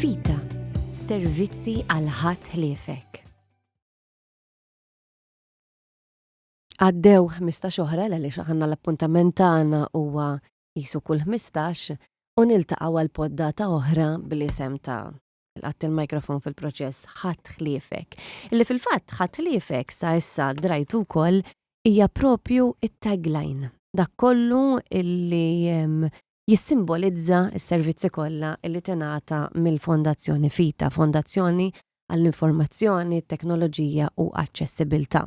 Vita, servizzi għal ħadd ħliefek. Għaddew ħmistax oħra għaliex aħna l-appuntament tagħna huwa qisu kull ħmistax u niltaqgħu għal poddata oħra bl-isem ta' Qatt il-mikrofon fil-proċess ħadd ħliefek. Illi fil-fatt ħadd ħliefek sa issa drajtu wkoll hija propju it-tagline. Dak kollu illi jissimbolizza s-servizzi kollha li tingħata mill-Fondazzjoni Vita, fondazzjoni għall-informazzjoni, it-teknoloġija u aċċessibilità.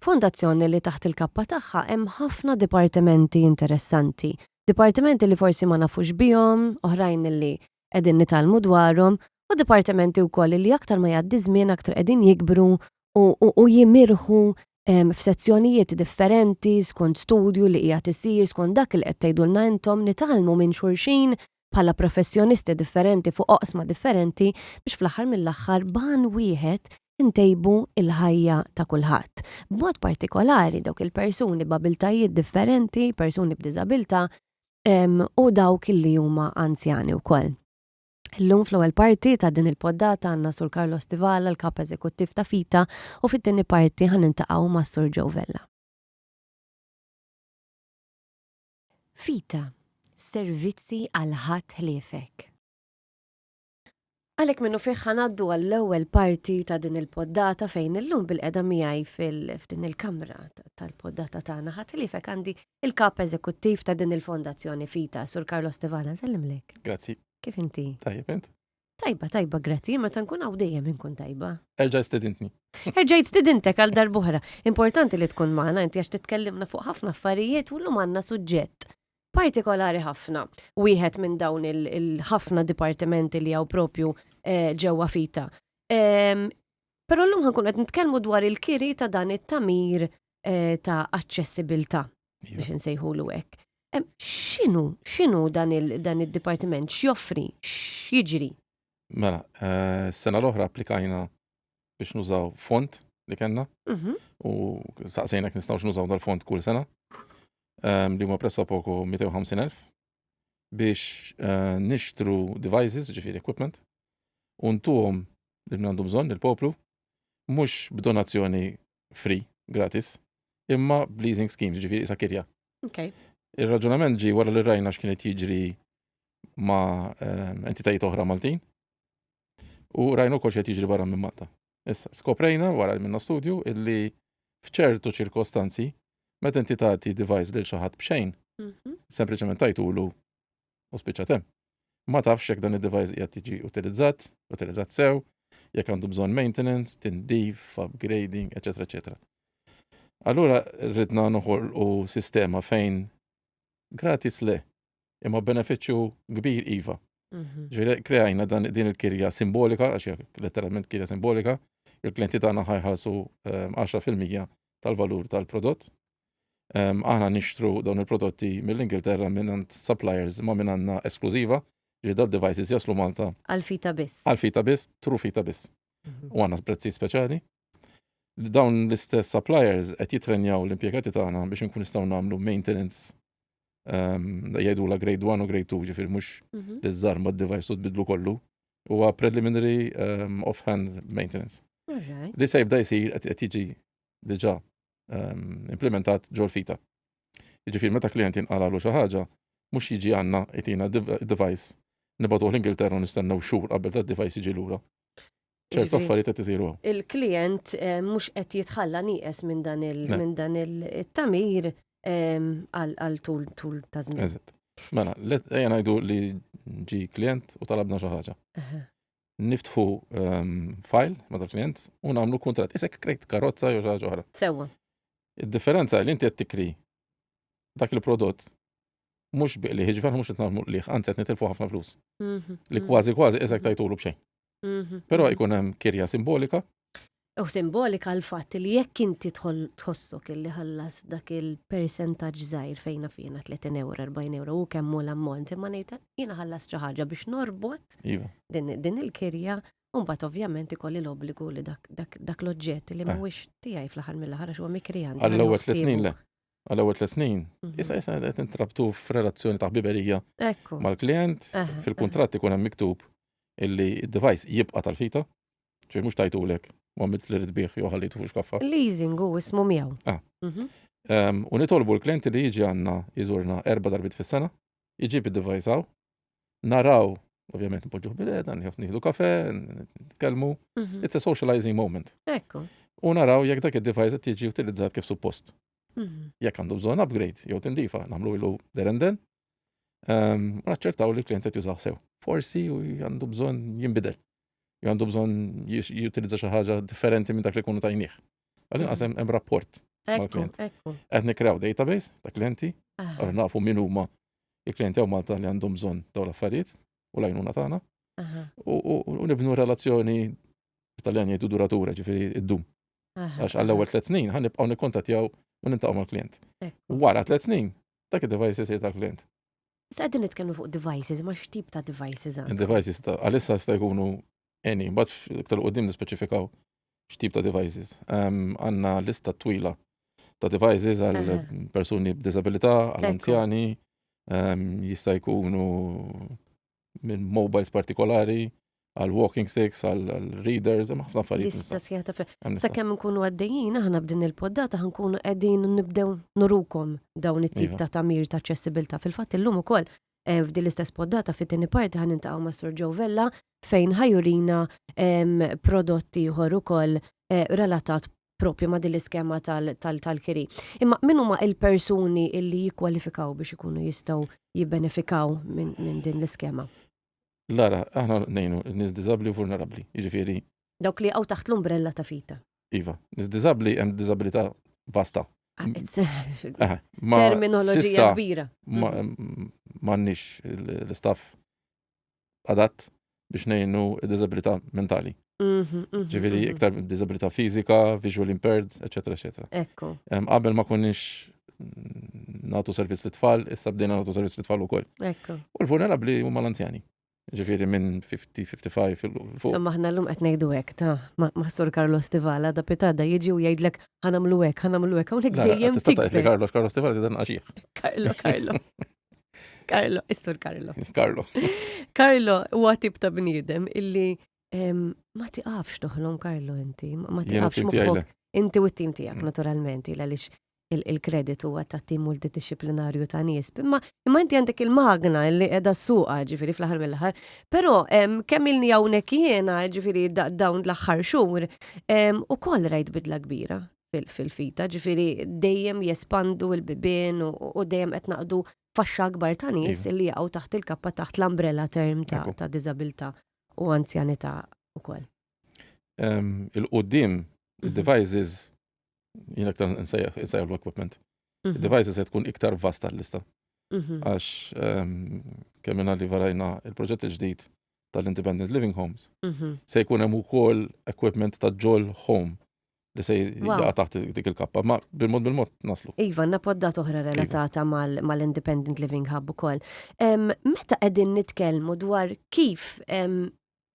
Fondazzjoni li taħt il-kappa tagħha hemm ħafna dipartimenti interessanti, dipartimenti li forsi ma nafux bihom, oħrajn li qegħdin nitgħallmu dwarhom, u dipartimenti wkoll li aktar ma jgħaddi ż-żmien aktar qegħdin jikbru u jimirħu f'sezzjonijiet differenti skont studju li qiegħed isir skont dak li qed tgħidulna intom nitgħallmu minn xulxin bħala professjonisti differenti fuq oqsma differenti biex fl-aħħar mill-aħħar b'għan wieħed intejbu l-ħajja ta' kulħadd. B'mod partikolari dawk il-persuni b'abiltajiet differenti, persuni b'diżabilità u dawk li huma anzjani wkoll. Illum fl-ewwel parti ta' din il-poddata għandna Sur Carlo Stivala, l-Kap Eżekuttiv ta' Fita, u fit-tieni parti ħan nintaqgħu ma' Sur Joe Vella. Fita, servizzi għal ħadd ħliefek. Għalhekk minnu fih ħanaddu għall-ewwel parti ta' din il-poddata fejn illum bil-qeda miegħi fil-ftin il-kamra tal-poddata tagħna ħadd ħliefek għandi Il-Kap Eżekuttiv ta' din il-Fondazzjoni Fita, Sur Carlos Tevana, sellimlek. Grazzi. Kif inti? Tajjeb int? Tajba, tajba, grazzi, meta nkun hawn dejjem inkun tajba. Erġajt stedintni. Erġajt stedintek għal darbohra. Importanti li tkun magħna inti għax titkellimna fuq ħafna affarijiet u llum għandna suġġett partikolari ħafna. Wieħed minn dawn il-ħafna dipartimenti li hawn propju eh, ġewwa fita. Ehm, però llum ħankun qed nitkellmu dwar il-kiri ta' dan it-tamir eh, ta' aċċessibilità iva. biex insejħulu hekk. X'inhu x'inhu dan id-dipartiment x'joffri x'jiġri? Mela, eh, sena l-oħra applikajna biex nużaw font li kellna mhm. u saqsejna kien nistgħux nużaw dal-font kull sena ehm, li huma pressa poku 250,000 biex eh, nixtru devices, ġifieri equipment, u ntuhom li għandu bżonn il-poplu, mhux b'donazzjoni free, gratis, imma b'leasing schemes, ġifieri sa kirja. Okay. Ir-raġunament ġi wara li rajna x'kien qed jiġri ma' ehm, entitajiet oħra Maltin u rajna wkoll x'qed jiġri barra minn Malta. Issa, skoprejna wara li minna studju illi f'ċertu ċirkostanzi meta inti tagħti device lil xi ħadd b'xejn, mhm. sempliċement tajtulu U spiċċa tem. Ma tafx jekk dan id-device qiegħed tiġi utilizzat, utilizzat sew, jekk għandu bżonn maintenance, tindif, upgrading, eċetera, eċetera. Allura rridna noħolqu sistema fejn gratis le, imma benefiċċju kbir iva. Mhm. Ġiri, kreajna dan din il-kirja simbolika, għax letteralment kirja simbolika, il-klienti tagħna ħajħasu 10% ehm, tal-valur tal-prodott, Aħna nixtru dawn il-prodotti mill-Ingilterra mingħand suppliers ma' min għandna esklużiva, ġifieri dal-devices jaslu Malta. Għal fita biss. Għal fita biss, through fita biss. U għandna prezzijiet speċjali. Dawn l-istess suppliers qed jittrenjaw l-impjegati tagħna biex inkunu nistgħu nagħmlu maintenance jgħidulha grade one u grade two, ġifieri mhux li żżarma d-device u tbiddlu kollu. Huwa preliminary off-hand maintenance. Li se jibda jsir qed jiġi diġà ehm, implementat ġol fita. Jiġifieri meta klient jinqalalu xi ħaġa, mhux jiġi għandna itina device nibatuh l-Ingilterra nistennew xhur qabel tad device jiġi lura. ċertu affarijiet qed isiru. Il-klient eh, mhux qed jitħalla nieqes minn dan minn dan il-tamir ehm, għal tul tul ta' żmien. Eżatt. Mela, ejja ngħidu li ġi klient u talabna xi ħaġa. niftħu ehm, fajl ma' dal klient u nagħmlu kuntratt. Isek krejt karozza jew xi oħra. Sewwa. Id-differenza li inti qed tikri dak il-prodott mhux biqli ħiġver mhux qed nagħmlu qliħ, anzi qed nitilfu ħafna flus. Mhm, li mhm. kważi kważi isek tajtulu b'xejn. Mhm, Però jkun hemm kirja simbolika Hu simbolika l-fatt li jekk inti tħossok illi ħallas dak il-persentaġġ żgħir fejna fina 30 euro, 40 euro u kemm hu l-ammont imma ngħid jiena ħallas xi ħaġa biex norbot iva. din il-kirja Umbat ovvjament ikolli l-obbligu li dak l-oġġett li eh. mhuwiex tiegħi fl-aħħar mill-aħħar għax huwa mikrijan. Għall-ewwel tliet snin le. Għall-ewwel tliet snin. Mhm. Issa issa qed intrabtu f'relazzjoni ta' ħbiberija mal-klient eh, eh. fil-kuntratt ikun hemm miktub illi d-device jibqa' tal-fita Ġej mhux tajtulek, u għamilt li rid bih jew ħallitu fuq xkaffa. Leasing hu ismu miegħu. Ah. Mhm. Ehm, u nitolbu l-klienti li jiġi għandna jżurna erba' darbit fis-sena, iġib id-device hawn, naraw, ovvjament npoġġuh bil-qeda, nieħu- nieħdu kafe, n- nitkellmu. Mhm. It's a socializing moment. Ekku. U naraw jekk dak id-device qed jiġi utilizzat kif suppost. Mhm. Jekk għandu bżonn upgrade jew tindifa, nagħmlu ilu derenden. Ehm, u naċċertaw li l-klient qed jużaw sew. Forsi u għandu bżonn jinbidel. għandu bżon jutilizza xi ħaġa differenti minn dak li kunu tajnieh. Għalli għasem hemm rapport. Ekku, ekku. Qed nikrew database ta' klienti, ah. għalli nafu min huma il-klienti għaw Malta li għandhom bżon daw l-affarijiet u lajnuna tagħna. U nibnu relazzjoni tal-jan jgħidu duratura ġifiri id-dum. Għax għall-ewwel tliet snin ħan nibqgħu nikkontattjaw u nintaqgħu mal-klient. Wara tliet snin dak id-device isir tal-klient. Issa qegħdin nitkellmu fuq devices, ma x'tip ta' devices għandhom? Devices ta' għalissa sta jkunu any, bat iktar qudiem nispeċifikaw x'tip ta' devices. Għandna lista twila ta' devices għal persuni b'disabilità, għal anzjani, jista' jkunu minn mobiles partikolari, għal walking sticks, għal readers, hemm ħafna affarijiet. Lista sħiħa ta' affarijiet. Sakemm nkunu għaddejjin aħna b'din il-poddata ħankunu qegħdin nibdew nurukom dawn it-tip iva. ta' tamir ta' aċċessibilità. Fil-fatt illum ukoll eh, f'din l-istess poddata fit-tieni parti ħan intaqgħu ma' Sur Joe Vella fejn ħajurina prodotti ieħor ukoll eh, relatat propju ma' din l-iskema tal-kiri. Imma min huma il-persuni illi jikkwalifikaw biex ikunu jistgħu jibbenefikaw minn din l-iskema? Lara, aħna nejnu nis diżabbli u vulnerabbli, jiġifieri. Dawk li għaw taħt l-umbrella ta' fita. Iva, nis diżabbli hemm diżabilità vasta. Ah, eh, terminoloġija kbira. M'għandniex l-istaff adatt biex ngħinu d-diżabilità mentali. Mhm, mhm, Ġifieri mhm. iktar diżabilità fiżika, visual impaired, eċetera, eċetera. Ekku. Em, Qabel ma konniex mm, nagħtu servizz lit tfal issa bdejna nagħtu servizz lit tfal ukoll. Ekku. U l-vulnerabbli huma l-anzjani. Ġifieri minn 50, 55 fil- fuq. Insomma, ħna l-lum qed ngħidu hekk ta' ma- maħsur Carlos Tivala da pitada jiġi u jgħidlek ħanamlu hekk, ħanamlu hekk, hawnhekk La, la, dejjem tista' tgħidli tikber. Carlos, Carlos Tifal dan għaxih. Carlo, Carlo. Karlo, is-sur Karlo. Karlo. Karlo huwa tip ta' bniedem illi ma tiqafx toħlom Karlo inti, ma tiqafx moħħok. Inti u t-tim tiegħek mm. naturalment, il għaliex il-kredit huwa ta' tim multidisciplinarju ta' nies. Imma imma inti għandek il-magna li qiegħda suqa ġifieri fl-aħħar mill-aħħar. Però kemm ilni hawnhekk jiena ġifieri dawn l-aħħar xhur ukoll rajt bidla kbira. fil-fita, ġifiri dejjem jespandu il-bibin u dejjem qed naqdu faxxa akbar ta' nies li jaqgħu taħt il-kappa taħt l-umbrella term ta' diżabilità u anzjanità wkoll. Il-qudiem, il-devices, jien aktar insejjaħ l-equipment. Mhm. Il-devices se tkun iktar vasta l-lista. Mhm. Għax kemm li varajna il-proġett il-ġdid tal-Independent Living Homes, mhm. se jkun hemm ukoll equipment ta' ġol home li se jaqa taħt dik il-kappa, ma bil-mod bil-mod naslu. Iva, għanna poddat oħra iva. relatata mal-Independent Living Hub u koll. Meta għedin nitkelmu dwar kif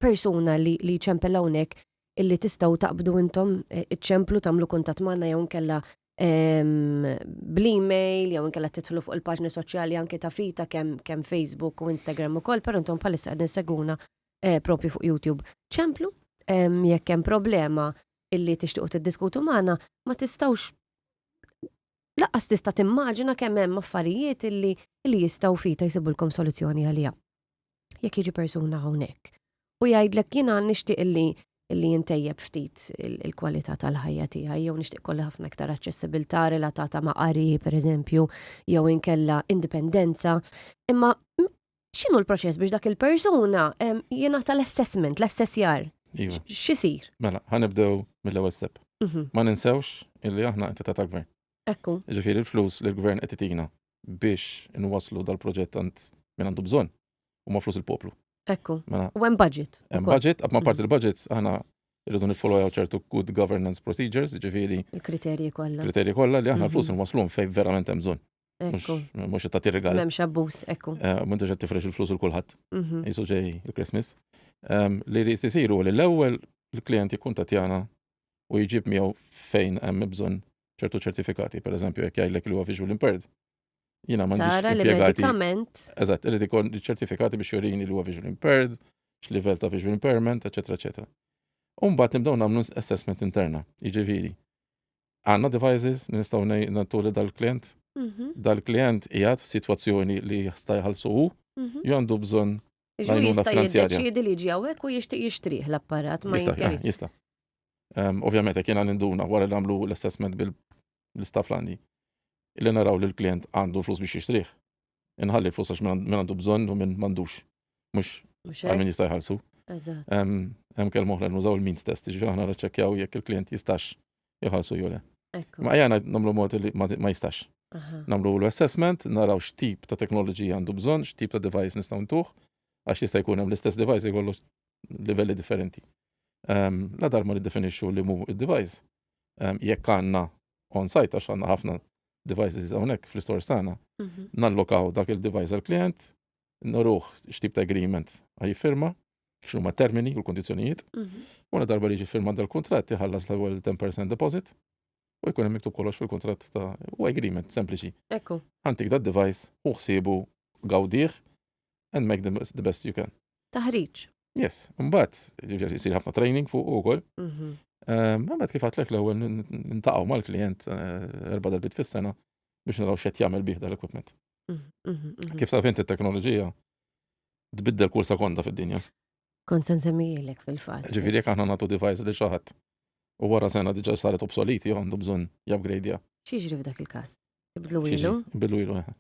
persuna li ċempel hawnhekk illi tistaw taqbdu intom e, iċemplu tamlu kuntat manna jew nkella bl-email jew nkella titħlu fuq il-paġni soċjali anke ta' fita kemm kem Facebook u Instagram ukoll, però intom bħalissa qegħdin seguna e, propju fuq YouTube. Ċemplu jekk hemm problema illi tixtiequ tiddiskutu magħna, ma tistgħux lanqas tista' timmaġina kemm hemm affarijiet illi illi jistgħu fita jsibulkom soluzzjoni għaliha. Jekk jiġi persuna hawnhekk u jgħidlek jiena nixtieq illi illi intejjeb ftit il-kwalità tal-ħajja tiegħi jew nixtieq kolli ħafna iktar aċċessibilità relatata ma' qari pereżempju jew inkella indipendenza, imma x'inhu l-proċess biex dak il-persuna jingħata l-assessment, l-assessjar? Iva. X'isir? Mela, ħanibdew mill-ewwel step. Mhm. Ma ninsewx illi aħna entità tal-gvern. Ekku. Ġifieri l-flus li l-gvern qed itina biex inwaslu dal-proġett għand minn għandu bżonn huma flus il-poplu. Ekku. Mela. U hemm budget. Hemm budget, ma mhm. parti l-budget aħna irridu nifollow ċertu good governance procedures, ġifieri. Il-kriterji kollha. Kriterji kollha li aħna mhm. flus inwaslhom fejn verament hemm bżonn. Ekku. Mux ta' tirrigal. Memx abbus, ekku. Eh, Muntu ġed tifrex il-flus u l-kulħat. Mhm. Jisu ġej il-Christmas. Ehm, li li jisiru li l-ewel il-klient jikun tatjana u jġib miegħu fejn hemm bżonn ċertu ċertifikati, per eżempju, jekk jgħidlek li huwa visual impaired. Jina ma Tara li medikament. Eżatt, irid ikun ċertifikati biex jurini li huwa visual impaired, x'livell ta' visual impairment, eċetera, eċetera. Umbat nibdew nagħmlu assessment interna, jiġifieri Għandna devices li nistgħu ngħidu li dal-klient mhm. dal-klient qiegħed f'sitwazzjoni li jista' jħallsu hu mhm. jew għandu bżonn Jista' jiddeċiedi li ġi hawnhekk u jixtieq jixtrih l-apparat ma jista' jista'. Ehm, ovvjament jekk jiena ninduna wara li nagħmlu l-assessment bil-istaff landi li naraw li l-klient għandu flus biex jixtrih. inħalli l-flus għax minn għandu bżonn u minn m'għandux. Mhux għal min jista' jħallsu. Hemm kelma oħra nużaw il-means test, ġifieri aħna naċċekkjaw jekk il-klient jistax jħallsu jew le. Ma jgħana namlu mod li ma jistax. Namlu l-assessment, naraw x'tip ta' teknoloġija għandu bżonn, x'tip ta' device nistgħu ntuħ, għax jista' jkun hemm l-istess device jkollu livelli differenti. Ehm, la darma li definixxu li mu id-device, ehm, jekk għandna on-site għax għandna ħafna devices hawnhekk fl-istores tagħna, mhm. nallokaw dak il-device għall-klient, noruh x'tip ta' agreement firma, x'nu ma' termini u l-kondizzjonijiet, mhm. u na darba li ġi firma dal-kuntratt iħallas l-ewwel 10% deposit u jkun hemm miktub kollox fil-kuntratt ta' u agreement sempliċi. Ekku. Għantik da' device u ħsiebu gawdih and make the best you can. Taħriġ. Yes, mbagħad ġifieri jsir ħafna training fuq ukoll. Mhm. Ehm, Mbagħad kif għatlek l-ewwel nintaqgħu mal-klijent eh, erba' darbit fis-sena biex naraw x'qed jagħmel bih dal-equipment. Mhm, mhm, mhm. Kif taf inti t-teknoloġija tbiddel kull sekonda fid-dinja. Kont se nsemmijilek fil-fatt. Ġifieri jekk aħna nagħtu device li xi ħadd u wara sena diġà saret obsoleti jew għandu bżonn jabgrejdja. X'jiġri f'dak il-każ? Ibdlu ilu? Bilu ilu eħe.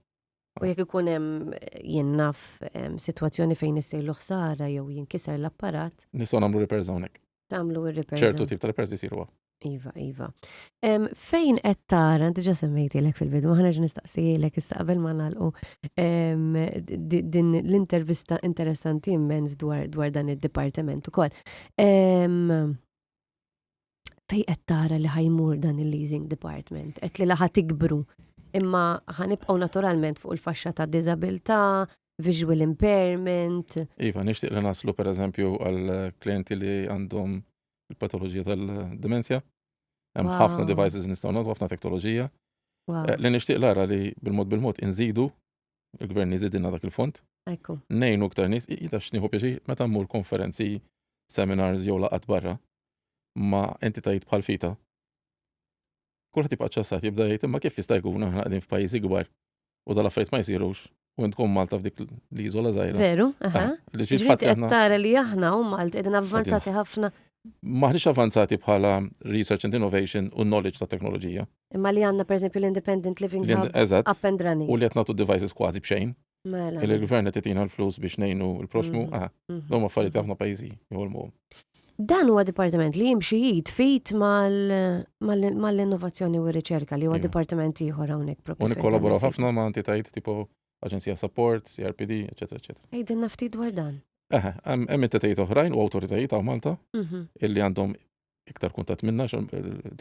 U jekk ikun hemm jien naf sitwazzjoni fejn issirlu ħsara jew jinkiser l-apparat. Nistgħu nagħmlu repairs hawnhekk. Tagħmlu ir-repairs. ċertu tip ta' repairs isiru Iva, iva. Fejn qed tara, diġa semmejtilek fil-bidu, ma ħaneġ nistaqsijilek issa qabel ma nagħlqu din l-intervista interessanti immens dwar dan id-dipartiment ukoll. Fej qed tara li ħajmur dan il-leasing department, qed li laħa tikbru, imma ħanibqgħu naturalment fuq il-faxxa ta' diżabilità, visual impairment. Iva, nixtieq li naslu pereżempju għal klienti li għandhom il-patoloġija tal-demenzja. Hemm ħafna devices nistgħu nagħtu ħafna teknoloġija. Eh, li nixtieq lara li bil-mod bil-mod inżidu il-gvern jizidina dak il-fond. Ekku. Nejnu ktar nis, jita xniħu pieċi, meta mmur konferenzi, seminars jew laqat barra, ma entitajiet bħal fita. Kulħat jibqa ċassat jibda jgħid imma kif jista' jkun aħna qegħdin f'pajjiżi kbar u dal-affarijiet ma jsirux u tkun Malta f'dik li jizola zaħira. Veru, aha. Ah, li ġiet tara li aħna u Malta qegħdin avvanzati ħafna. Maħniex avvanzati bħala research and innovation u knowledge ta' teknoloġija. Imma li għandna pereżempju l-independent living Li- hub eżatt. up and running. U li qed nagħtu devices kważi b'xejn. Mela. Illi l-gvern qed itina l-flus biex ngħinu l-proxmu. Mm. Ah, Mhm. dawn affarijiet li ħafna pajjiżi jħolmuhom. Dan huwa dipartiment li jimxi jid fit mal- mal- mal-innovazzjoni u r-riċerka li huwa Iva. dipartiment ieħor hawnhekk propju. U fejn nikkollaboraw tagħmel ħafna ma' entitajiet tipo Aġenzija Support, CRPD, eċetera, eċetera. fit. Għidilna ftit dwar dan. Aha, hemm hemm entitajiet oħrajn u awtoritajiet ta' Malta Mhm. illi għandhom iktar kuntat minna,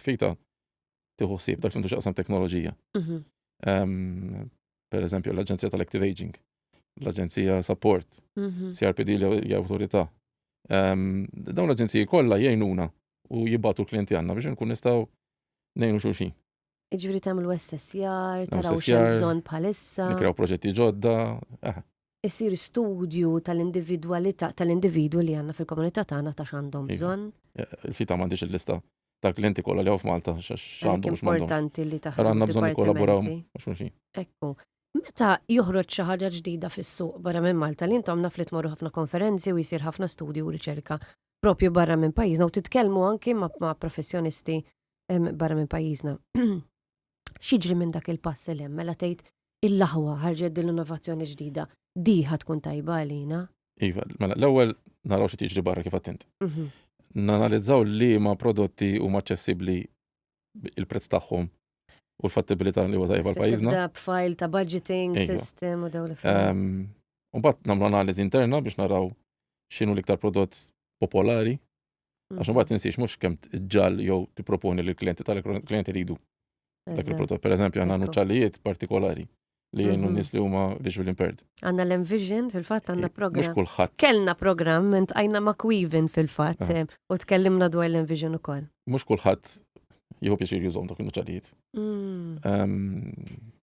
fita tiħu sib dak l-indu xaqsam teknoloġija. Mhm. Ehm, per eżempju, l-Aġenzija tal-Active Aging, l-Aġenzija Support, mhm. CRPD li autorità. Ehm, dawn l-aġenziji kollha jgħinuna u jibbatu l-klienti għanna biex nkun nistaw nejnu xulxin. Iġviri tamlu SSR, taraw xem bżon bħalissa. Nikraw proġetti ġodda. Eh. Isir studju tal-individualità tal-individu li għanna fil-komunità tagħna ta' x'għandhom iva. bżonn. Eh, il-fita m'għandix il-lista ta' klienti kollha li f'Malta x'għandhom Importanti li taħdem. Għandna bżonn kollaboraw xulxin. Ekku. Meta joħroġ xi ħaġa ġdida fis-suq barra minn Malta li intom naf li tmorru ħafna konferenzi u jsir ħafna studju u riċerka propju barra minn pajjiżna u titkellmu anki ma' professjonisti barra minn pajjiżna. Xiġri minn dak il-pass li hemm mela tgħid il-laħwa ħarġet din l-innovazzjoni ġdida. Diħa tkun tajba għalina. Iva, mela l-ewwel naraw xi tiġri barra kif attent. Mhm. Nanalizzaw li ma prodotti huma aċċessibbli il-prezz tagħhom u l-fattibilità li huwa tajba l-pajjiżna. Da b'fajl ta' budgeting iva. system u dawn l-affarijiet. Ehm, u bat nagħmlu analiżi interna biex naraw x'inhu l-iktar prodott popolari Għax mhm. mbagħad tinsiex mhux kemm ġall jew tipproponi lill klijenti tal-klijenti ridu. Dak il-prodott, per eżempju, għandna nuċċallijiet partikolari li jennu mhm. nis li huma visual impaired. Għanna l-Envision, fil-fat għanna eh, program. Mux kullħat. Kellna program, ment għajna ma' Quivin fil-fat, eh. Eh, u tkellimna dwar l-Envision u koll. Mux kullħat jħu pieċir jużom dak il-nuċalijiet.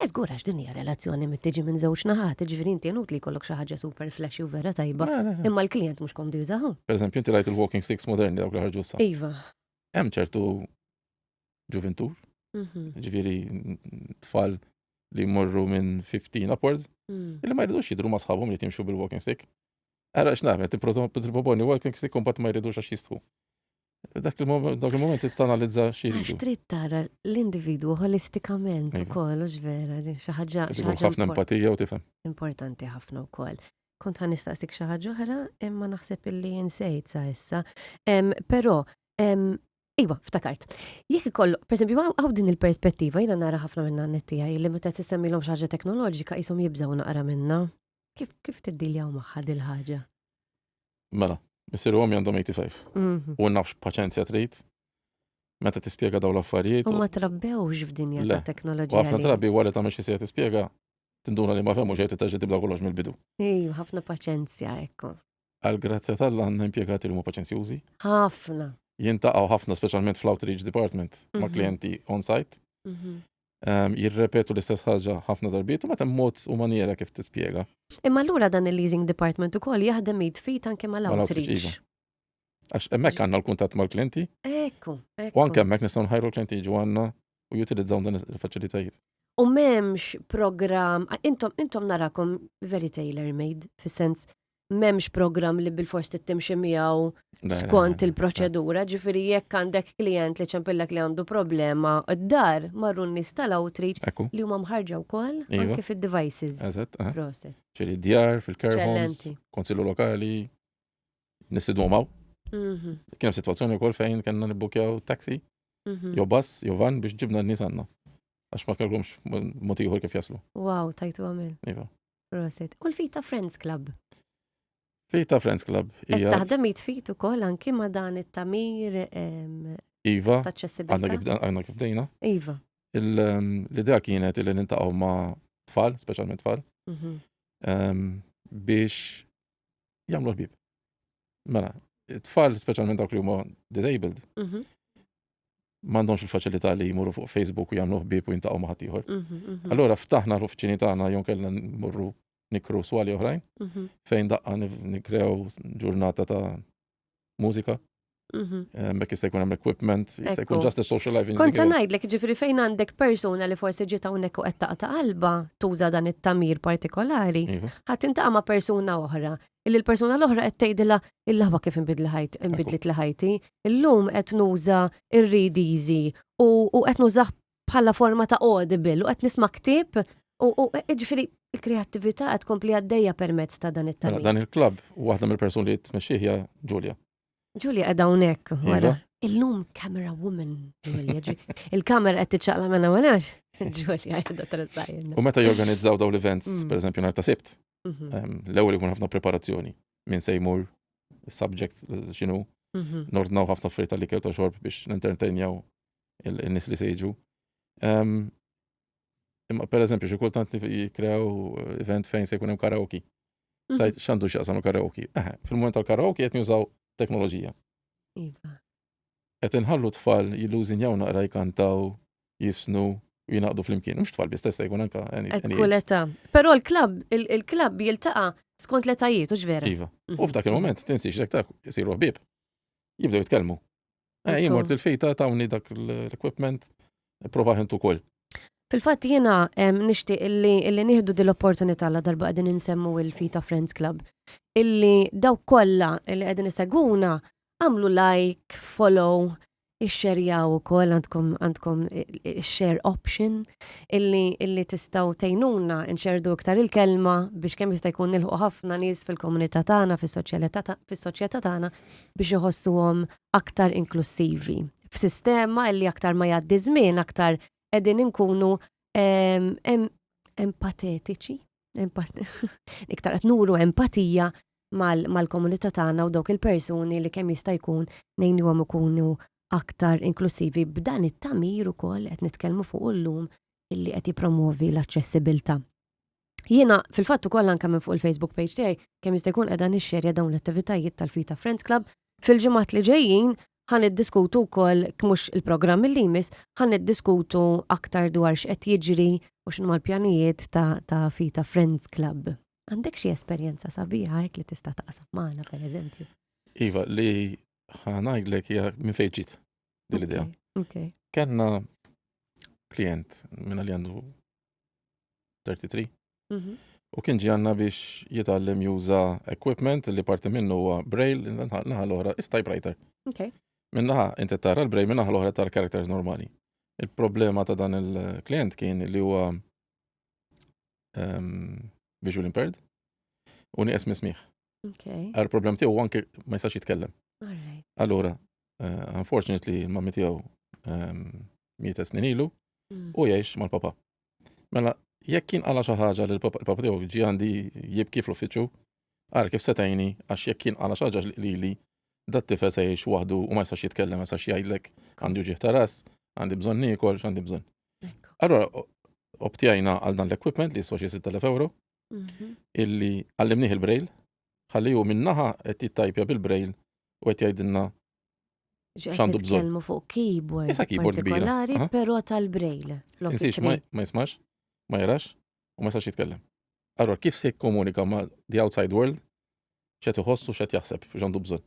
Eżgur għax din hija relazzjoni mit tiġi minn żewġ naħat, ġifieri inti li jkollok xi ħaġa super flashy u vera tajba, imma l-klijent mhux komdu jużahu. Per eżempju, inti rajt il-walking sticks moderni dawk li ħarġu sa. Iva. Hemm ċertu ġuventur, mhm. ġifieri tfal li morru minn 15 upwards, mm. illi ma jridux jidru ma sħabhom li timxu bil-walking stick. Ara x'nagħmel, tipproponi walking stick kumbat ma jridux għax jistħu. Dak il-moment it-tanalizza xiri. Għax trid tara l-individwu holistikament u koll, u ġvera, xaħġa. ħafna empatija u tifem. Importanti ħafna u koll. Kont għan nistaqsik xaħġa uħra, imma naħseb illi jinsejt sa' issa. Pero, Iwa, ftakart. Jek ikollu, per esempio, għaw din il-perspettiva, jina nara ħafna minna n-nettija, li meta t-semmilom xaġa teknoloġika jisom jibżaw naqra minna. Kif kif tiddiljaw magħha dil-ħaġa? Mela, missier għom għandhom 85. Mhm. U nafx paċenzja trid. Meta tispjega daw l-affarijiet. U ma trabbewx f'dinja ta' teknoloġija. Għafna drabi wara ta' meċi se tispjega, tinduna li ma femmu xejn titaġi tibda kollox mill-bidu. Ej, ħafna paċenzja, ekku. Għal grazzja tal-la għanna impiegati li mu paċenzjużi. ħafna. Jintaqaw ħafna, specialment fl-outreach department, ma' mhm. klienti on-site. Mhm. ehm, jirrepetu l-istess ħaġa ħafna darbiet u meta mod u maniera kif tispjega. Imma allura dan il-leasing department ukoll jaħdem id fit anke mal-outreach. Iva. Għax hemmhekk għandna l-kuntatt mal-klienti. Ekku. U anke hemmhekk nistgħu nħajru l-klienti jiġu għandna u jutilizzaw dan il-faċilitajiet. U m'hemmx programm, intom intom narakom very tailor made fis-sens m'hemmx programm li bil-fors tittimxi miegħu skont il-proċedura, ġifieri jekk għandek klient li ċempillek li għandu problema d-dar marru n-nies tal-outreach li huma mħarġa wkoll anke fid-devices. Eżatt. Proset. Ġifieri djar fil-care homes, konsillu lokali, nistidhom hawn. Mhm. Kien hemm sitwazzjoni wkoll fejn kellna nibbukjaw taxi, mhm. jew bass, jew van biex ġibna n-nies għandna. Għax ma kellhomx motiħor kif jaslu. Wow, tajtu għamil. Iva. Proset. U l-Fita Friends Club? Fita Friends Club. Ija. Taħdem jitfit ukoll anki ma dan it-tamir. Iva. Għanna kif dejna. Iva. L-idea kienet li nintaqgħu ma tfal, speċjalment tfal, mhm. biex jagħmlu l-bib. Mela, tfal speċjalment dawk li huma disabled, mhm. m'għandhomx il-faċilità li jmuru fuq Facebook u jagħmlu ħbieb u jintaqgħu ma' ħadd ieħor. Mhm, mhm. Allura ftaħna l-uffiċini tagħna jew kellna nmorru nikru swali oħrajn fejn daqqa nikrew ġurnata ta' mużika. Mhm. Eh, mek jista' jkun hemm equipment, jista' jkun just social life. Kont se ngħidlek ġifieri fejn għandek persuna li forsi ġiet hawnhekk u qed taqta' qalba tuża dan it-tamir partikolari, iva. ħadd intaqa' ma' persuna oħra. Illi l-persuna l-oħra qed tgħidilha il-laħba kif inbidli ħajt inbidlit li ħajti, illum qed nuża ir-read easy u qed nużah bħala forma ta' audible u qed nisma' ktieb u jiġifieri l-kreattività qed tkompli għaddejja permezz ta' dan it-tagħlim. Dan il-klabb u waħda mill-persuni li tmexxih hija Ġulja. Ġulja qiegħda hawnhekk wara. Illum camera woman Ġulja. Il-kamera qed tiċċaqla minn hawn għax Ġulja qiegħda tressaqilna. U meta jorganizzaw dawn l-events, pereżempju nhar ta' Sibt, Mhm. Ehm, L-ewwel ikun ħafna preparazzjoni minn se jmur is-subject x'inhu Mhm. nordnaw ħafna affarijiet tal-ikel ta' xorb biex nintertenjaw il- in-nies li se jiġu. Ehm, Imma per eżempju, xi kultant nif- jikkrew event fejn se jkun hemm karaoke. Mhm. Tajt x'għandu x'jaqsam il-karaoke. Eħe, fil-moment tal-karaoke qed nużaw teknoloġija. Iva. qed inħallu tfal jillużinjaw naqra jkantaw, jisnu u jinaqdu flimkien. Mhux tfal biss testa jkun anka Kull età. Però l-klabb, il-klabb jiltaqa' skont l-etajiet, hux vera? Iva. U f'dak il-moment tinsiex dak ta' isiru ħbieb. Jibdew jitkellmu. Eh, jien mort il-fejta tawni dak l-equipment, prova ħintu kol. Fil-fatt jiena nixtieq illi nieħdu din l-opportunità la darba qegħdin insemmu il-Fita Friends Club. Illi daw kollha li qegħdin isegwuna Għamlu like, follow, ixxerjaw ukoll għandkom għandkom share option illi illi tistgħu tgħinuna nxerdu iktar il-kelma biex kemm jista' jkun nilħu ħafna nies fil-komunità tagħna fis-soċjetà tagħna biex iħossuhom aktar inklussivi. F'sistema illi aktar ma jgħaddi żmien aktar qegħdin inkunu empatetiċi. Iktar qed nuru empatija mal-komunità tagħna u dawk il-persuni li kemm jista' jkun ngħinuhom ikunu aktar inklusivi b'dan it-tagħmir ukoll qed nitkellmu fuq illum illi qed jippromwovi l-aċċessibilità. Jiena fil-fatt ukoll anke minn fuq il-Facebook page tiegħi kemm jista' jkun qiegħda nixxerja dawn l-attivitajiet tal-Fita Friends Club fil-ġimgħat li ġejjin Ħa niddiskutu wkoll, mhux il-programm li jmiss, ħa niddiskutu aktar dwar x'qed jiġri u x'inhuma l-pjanijiet ta' ta' Fita Friends Club. Għandek xi esperjenza sabiħa hekk li tista' taqsam magħna pereżempju? Iva, li ħa ngħidlek hija minn fejn ġiet din l-idea. Okay. Kellna klient minn li għandu 33. Mhm. U kien ġi għanna biex jitgħallem juża equipment li parti minnu huwa braille, naħa l-oħra is typewriter. Okay. Minnaħa inti tara l-braille minnaħa l-oħra tara characters normali. Il-problema ta' dan il-klient kien li huwa um, visual impaired u nieqes mismiħ. Okay. Għar problem tiegħu anke ma jistax jitkellem. Allura, uh, unfortunately, il-mammi tiegħu um, mieta snin ilu, mm. u jgħix mal-papa. Mela, jekk kien għala xi ħaġa li l-papa tiegħu ġi għandi jibki fl-uffiċċju, għar kif setajni għax jekk kien għala xi ħaġa li li dat tifel se jgħix waħdu u ma jistax jitkellem ma jistax jgħidlek għandu ġieħ ta' ras, għandi bżonn nikol, għandi bżonn. Allora, obtjajna għal dan l-equipment li jiswa xi 6000 euro, mhm. illi għallimnieh il-brail, ħalli hu minnaħa qed jittajpja bil-brail u qed jgħidilna Xandu bżon. Kelmu fuq keyboard. Issa keyboard partikolari, pero tal-brail. Insiex, ma jismax, ma jarax, u ma jistax jitkellem. Allora, kif se komunika ma the outside world, xet iħossu, xet jaħseb, xandu bżon.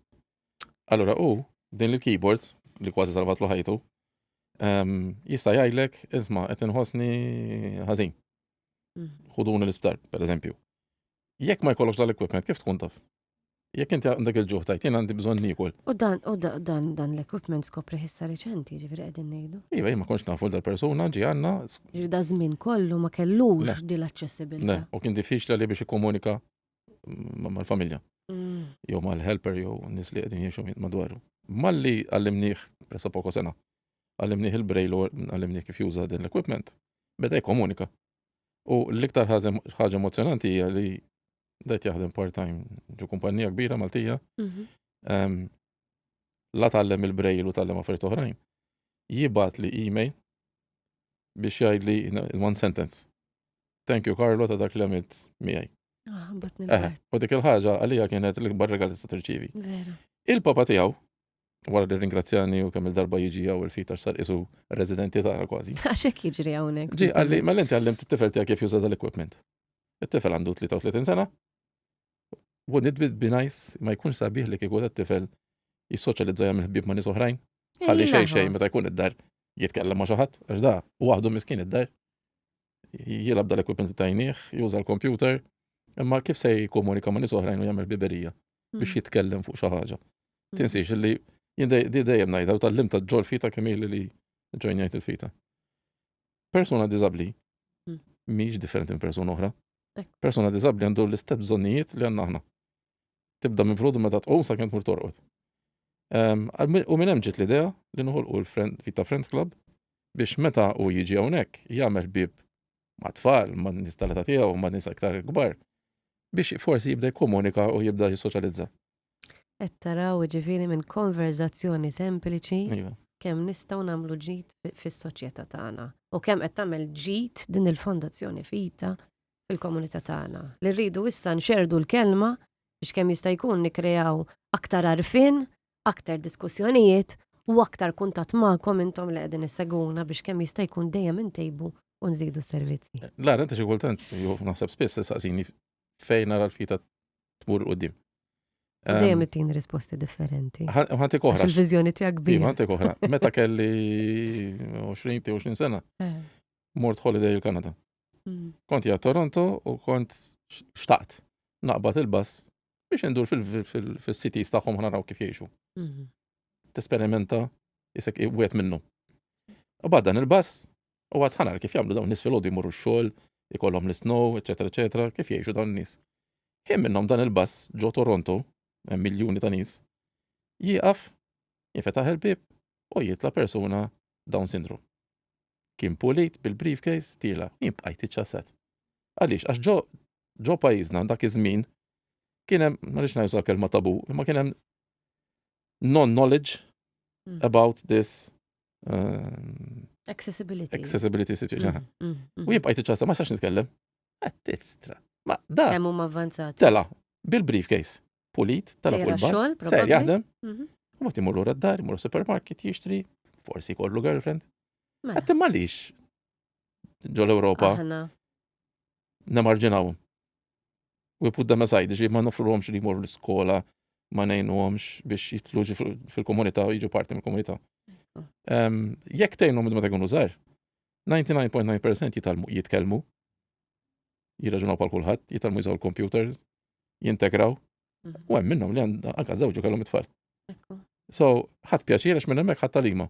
Allora, u din il-keyboard, li kważi salvat lu ħajtu, ehm, jista jgħidlek, isma, qed inħossni ħażin. Mhm. Ħuduni l-isptar, per eżempju. Jekk ma jkollokx dal-equipment, kif tkun taf? Jekk inti għandek il-ġuħ tajt, jien għandi bżonn nikol. U dan, u dan, dan l-equipment skopri ħissa reċenti, ġifiri għedin nejdu. Iva, jien ma konx nafu dal-persuna ġi għanna. Ġifiri da żmien kollu ma kellux di l-accessibilità. U kien diffiċla li biex ikkomunika mal-familja. Mm. Jew mal-helper jew nis li għedin jiexu madwaru. Malli għallimniħ, pressa poko sena, għallimniħ il-brejl u għallimniħ kif juża din l-equipment, beda jkomunika. U l-iktar ħaġa emozjonanti hija li dajt jaħdem part-time ġu kumpanija kbira Maltija. Mhm. Ehm, la tallem il-brejl u tallem affarijiet oħrajn. Jibat li email biex jgħid li in one sentence. Thank you Carlo ta' dak li għamilt miegħi. Ah, u dik il-ħaġa għalija kienet l-ikbar regal tista' tirċivi. Il-papa tiegħu wara li ringrazzjani u kemm il-darba jiġi għaw il-fit għax sar isu residenti tagħna kważi. Għaxek jiġri hawnhekk. Ġi għalli, ma l-inti għallimt it-tifel tiegħek kif juża dal-equipment. It-tifel għandu 33 sena. U nidbid binajs ma jkunx sabiħ li kieku t-tifel jissoċjalizza jagħmel ħbieb ma' nies oħrajn. Għalli xejn xejn meta jkun id-dar jitkellem ma' xi ħadd, għax da waħdu miskin id-dar. jilab dal-equipment li tajnieh, juża l-kompjuter, imma kif se jkomunika ma' nies oħrajn u jagħmel biberija hmm. biex jitkellem fuq xi ħaġa. Hmm. Tinsiex li di dejjem ngħidha u tal-lim ta' ġol fita kemm li ġojnjajt il-fita. Persuna diżabbli hmm. mhix differenti minn persuna oħra. Persuna diżabbli għandu l-istess bżonnijiet li għandna aħna. tibda minn frodu meta tqum sakemm tmur torqod. Ehm, u minn hemm ġiet l-idea li noħolqu l-Vita Friends Club biex meta u jiġi hawnhekk jagħmel bib ma' tfal, ma' nies tal tiegħu, ma' nies aktar kbar biex forsi jibda jikkomunika u jibda jissoċjalizza. Qed taraw ġifieri minn konverzazzjoni sempliċi iva. kemm nistgħu nagħmlu ġid fis-soċjetà tagħna u kemm qed tagħmel ġid din il-fondazzjoni fita fil-komunità tagħna, li rridu issa nxerrdu l-kelma biex kemm jista' jkun nikkreaw aktar għarfien, aktar diskussjonijiet u aktar kuntatt magħkom intom li qegħdin issegwuna biex kemm jista' jkun dejjem intejbu u nżidu s-servizzi. Lara, inti xi kultant, jew naħseb spiss tistaqsini fejn nara l-fita tmur il-qudiem. Dejjem ehm, it-tin risposti differenti. Ħanti koħra. Il-vizjoni tiegħek bi. Iva, ħanti koħra. Meta kelli 20 20 sena, eh. mort holiday il-Kanada. Mm. Kont ja Toronto u kont xtaqt naqbad il-bus biex indur fil-cities tagħhom naraw kif jgħixu. Mm-hmm. Tesperimenta jisek wet minnu. U bad dan il-bus u għad ħanar kif jagħmlu dawn nies fil-ħodu jmorru x-xogħol, ikollhom l-snow, eċetera, eċetera, kif jgħixu dawn nies. Kien minnhom dan il-bus ġo Toronto, hemm miljuni ta' nies, jieqaf, jifetaħ il-bib u jitla persuna Down syndrome. Kien pulit bil-briefcase tiela'. Jien bqajt iċċasat. Għaliex? Għax ġo ġo pajjiżna dak iż-żmien kien hemm, ma rridx ngħid uża kelma tabu, imma kien hemm non-knowledge about this Accessibility. accessibility situation. U jien bqajt iċċasat, ma jistax nitkellem. Għattistra. Ma da Kemm huma avvanzati. tela bil-briefcase. pulit, tala fuq il-bus, ser jaħdem, mhm. u ma timur l d-dar, imur supermarket jixtri, forsi kollu girlfriend. Mela. Għattim malix ġol Europa. Namarġinaw. U jipud dan asajdi ġi ma nofru l li jmur l-skola, ma nejnu għomx biex jitlu fil-komunità u jġu parti mill-komunità. Jek tejnu mid-ma tekun użar, 99.9% jitkellmu, jirraġunaw pal kulħadd, jitalmu jżaw l-computer, jintegraw. Mhm. U hemm minnhom li anka żewġu kellhom it-tfal. So, ħadd pjaċir għax minn hemmhekk ħadd talima.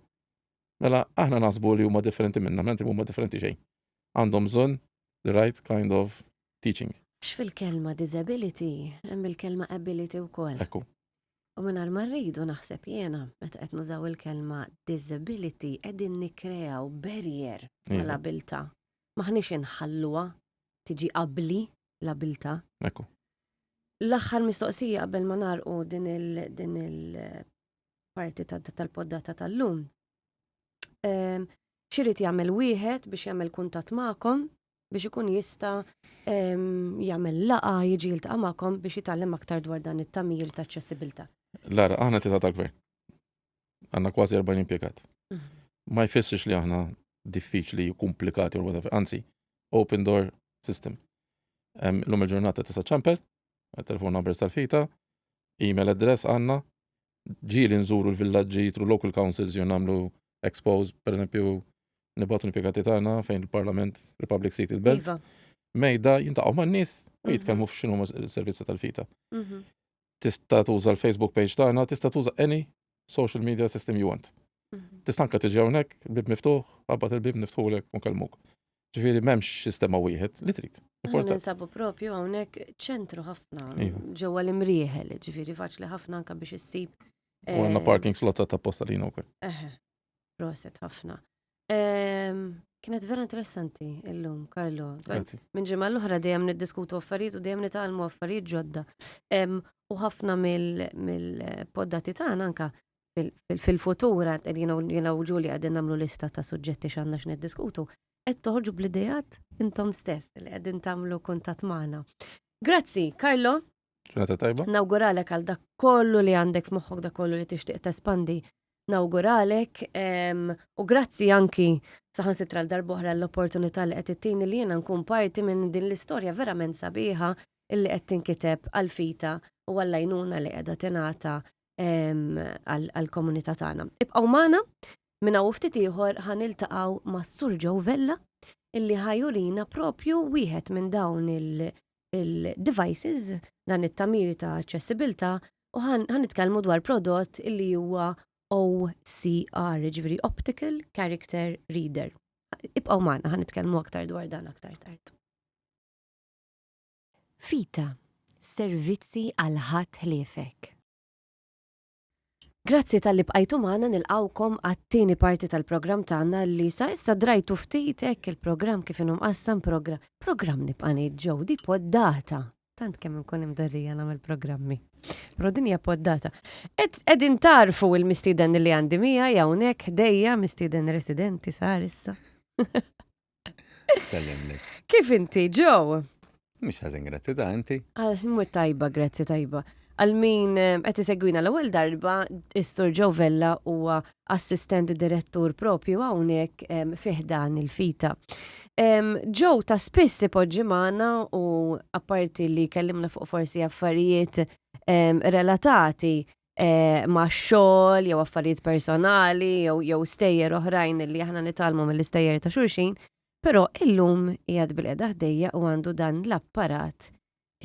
Mela aħna nasbu li huma differenti minna, menti huma differenti xejn. Għandhom bżonn the right kind of teaching. X'fil-kelma disability, hemm il-kelma ability wkoll. Ekku. U minn ma rridu naħseb jiena meta qed nużaw il-kelma disability qegħdin nikkreaw barrier mal-abilta. Maħniex inħalluha tiġi qabli l-abilta. Ekku. L-aħħar mistoqsija qabel ma narqu din il-parti tal-poddata tal-lum. Ehm, Xirit jagħmel wieħed biex jagħmel kuntat magħkom biex ikun jista ehm, jagħmel laqa jiġi jiltaqa' magħkom biex jitgħallem aktar dwar dan it-tamir ta' ċessibilta. Lara, aħna tita tal-gvern. Għanna kważi 40 impjegat. Ma jfissirx li aħna diffiċli, komplikati u whatever. Anzi, open door system. L-lum il-ġurnata tista' ċampel, telefon numbers tal-fita, email address għanna, ġili nżuru l-villagġi tru local councils jew namlu expose, per eżempju, nibatu nipiegati tagħna fejn il-Parlament Republic Seat il-Belt. Iva. Mejda jintaqgħu man-nies u jitkellmu mhm. f'xinu servizzi tal-fita. Mhm. tista' tuża l-Facebook page tagħna, tista' tuża any social media system you want. Mhm. Tista' anke tiġi hawnhekk, bib miftuħ, qabad il-bib niftħulek u nkellmuk. Ġifieri m'hemmx sistema wieħed li trid. Ninsabu propju hawnhekk ċentru ħafna iva. ġewwa l-imrieħel, ġifieri faċli ħafna anke biex issib. U għandna eh, parking slots ta' posta lina wkoll. Proset ħafna. Ehm, kienet vera interessanti illum, Karlo. Minn ġimgħa l-oħra dejjem niddiskutu affarijiet u dejjem nitgħalmu affarijiet ġodda. Ehm, u ħafna mill-poddati tagħna anka fil-futura, jina u ġuli għadin namlu lista ta' suġġetti xanna x'niddiskutu, qed toħorġu bl-idejat intom stess li qegħdin tagħmlu kuntat magħna. Grazzi, Karlo. Ġurnata tajba. Nawguralek għal dak kollu li għandek f'moħħok dak kollu li tixtieq tespandi. Nawguralek u grazzi anki saħan sitra l-darbohra l-opportunità li qed ittini li jiena nkun parti minn din l-istorja verament sabiħa illi qed tinkiteb għal fita u għall-għajnuna li qiegħda tingħata għall-komunità tagħna. Ibqgħu magħna minn hawn ftit ieħor ħan iltaqgħu mas-Sur Joe Vella illi ħajurina propju wieħed minn dawn il- il-devices, dan it-tagħmir ta' aċċessibilità, u ħa nitkellmu dwar prodott li huwa OCR, jiġifieri Optical Character Reader. Ibqgħu magħna ħa nitkellmu aktar dwar dan aktar tard. Fita, servizzi għal ħadd ħliefek. Grazzi talli bqajtu magħna nilqgħukom għat-tieni parti tal-programm tagħna li sa issa drajtu ftit hekk il-programm kif inhu mqassam progra programm nibqa' ngħid ġew di poddata. Tant kemm inkun imdorrija nagħmel programmi. Però din hija poddata. Qed qegħdin tarfu il-mistieden li għandi mija hawnhekk ħdejja mistieden residenti sar issa. Sellimlek. Kif inti, Joe? Mhux ħażin grazzi ta' inti. Ah, Mhu tajba, grazzi tajba. Għal min eh, qed isegwina l-ewwel darba, is-Sur Joe Vella huwa assistent direttur propju hawnhekk em, fih dan il-fita. Em, Joe ta' spiss ipoġġi magħna u apparti li kellimna fuq forsi affarijiet em, relatati eh, ma' xogħol jew affarijiet personali jew jew stejjer oħrajn li aħna nitalmu mill-istejjer ta' xulxin, però illum qiegħed bil-qeda ħdejja u għandu dan l-apparat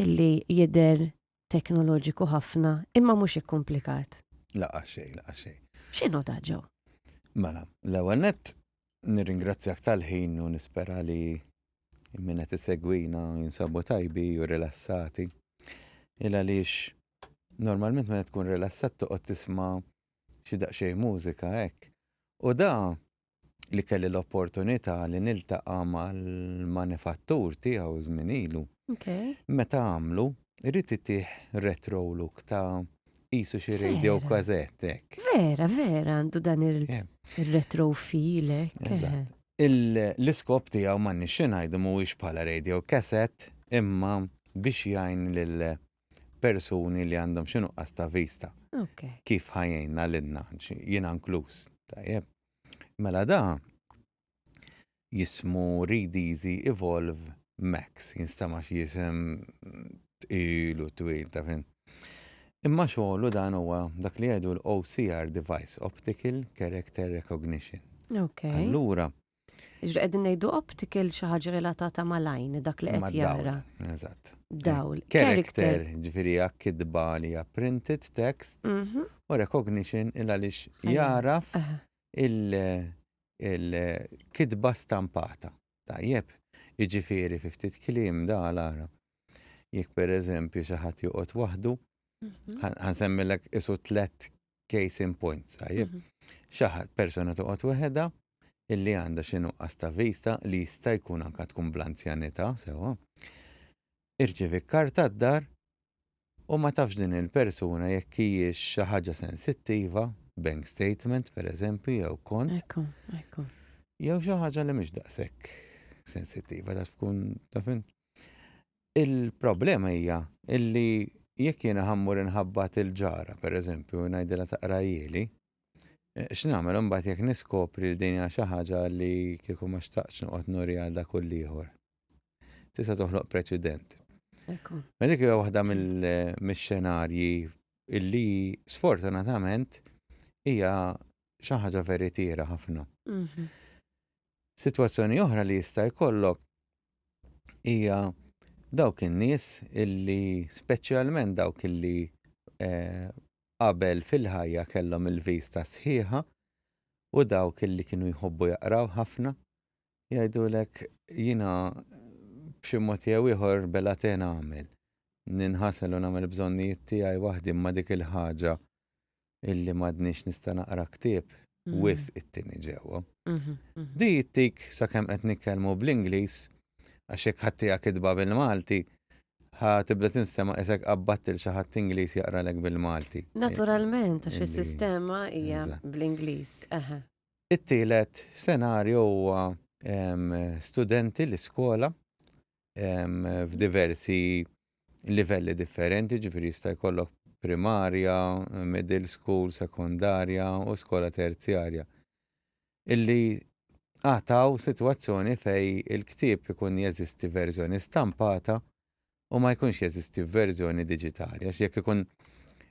illi jidher teknoloġiku ħafna imma mhux ikkumplikat. Laqa xej, laqa xej. X'inhu ta' ġew? Mela, l-ewwel nett nirringrazzjak tal-ħin u nispera li minna tisegwina jinsabu tajbi u rilassati. Il għaliex Normalment meta tkun rilassat toqgħod tisma' xi daqsxejn mużika hekk. U da li kelli l-opportunità li niltaqa' mal-manifattur tiegħu żmien ilu. Meta għamlu, ried itih retro look ta' qisu xi radio cassette hekk. Vera, vera għandu dan ir-retro feel hekk. L-iskop tiegħu m'għandniex xi ngħidu mhuwiex bħala radio cassette imma biex jgħin persuni li għandhom xi nuqqas ta' vista. Okay. Kif ħajjna l-inna, jina nkluż, tajjeb. Mela da jismu Read Easy Evolve Max, jinstama xi jisem tqilu twil ta' fin. Imma xogħlu dan huwa dak li jgħidu l-OCR device, Optical Character Recognition. Okay. Allura, Ġri qegħdin ngħidu optical xi ħaġa relatata mal-għajn dak li qed jara. Eżatt. Dawl. Character, ġifieri hija kitba li hija printed text mhm. u recognition il għaliex jaraf il-kitba stampata. Tajjeb, jiġifieri fi ftit kliem da l-Arab. Jekk pereżempju xi ħadd joqgħod waħdu, mhm. ħansemmilek isu tlet case in points, tajjeb. Mhm. Xi ħadd persuna toqgħod weħeda, illi għandha xi nuqqas ta' vista li jista' jkun anke tkun bl-anzjanità, sewwa, irċievi kard tad-dar u ma tafx din il-persuna jekk hijiex xi ħaġa sensittiva, bank statement pereżempju jew kont. Ekku, ekku. Jew xi ħaġa li mhix daqshekk sensittiva taf tkun taf int. Il-problema hija illi jekk jiena ħammur inħabbat il-ġara pereżempju ngħidilha taqra jieli, X'nagħmel imbagħad jekk niskopri li din hija xi ħaġa li kieku ma xtaqtx noqgħod nuri għal dak u l-ieħor? Tista' toħloq preċedent. Ma dik hija waħda mill-xenarji illi sfortunatament hija xi ħaġa veritiera ħafna. Mhm. Sitwazzjoni oħra li jista' jkollok hija dawk in-nies illi speċjalment dawk illi eh, qabel fil-ħajja kellhom il-vista sħiħa u dawk li kienu jħobbu jaqraw ħafna, jgħidulek jiena b'xi mod jew ieħor belatena għamel, ninħasel u nagħmel bżonnijiet tiegħi waħdi imma dik il-ħaġa illi m'għadnix nista' naqra ktieb mm. wis it-tieni ġewwa. Mhm, mhm. Di jittik sakemm qed nitkellmu bl-Ingliż għax hekk ħaddieha kitba bil-Malti ħa tibda tinstema isek qabbattil xi ħadd Ingliż jaqralek bil-Malti. Naturalment għax is-sistema hija bl-Ingliż. It-tielet senarju huwa studenti l-iskola f'diversi livelli differenti, ġifiri jista' jkollok primarja, middle school, sekondarja u skola terzjarja. Illi għataw sitwazzjoni fej il-ktieb ikun jeżisti verżjoni stampata u ma jkunx jeżisti verżjoni diġitali. Għax jekk ikun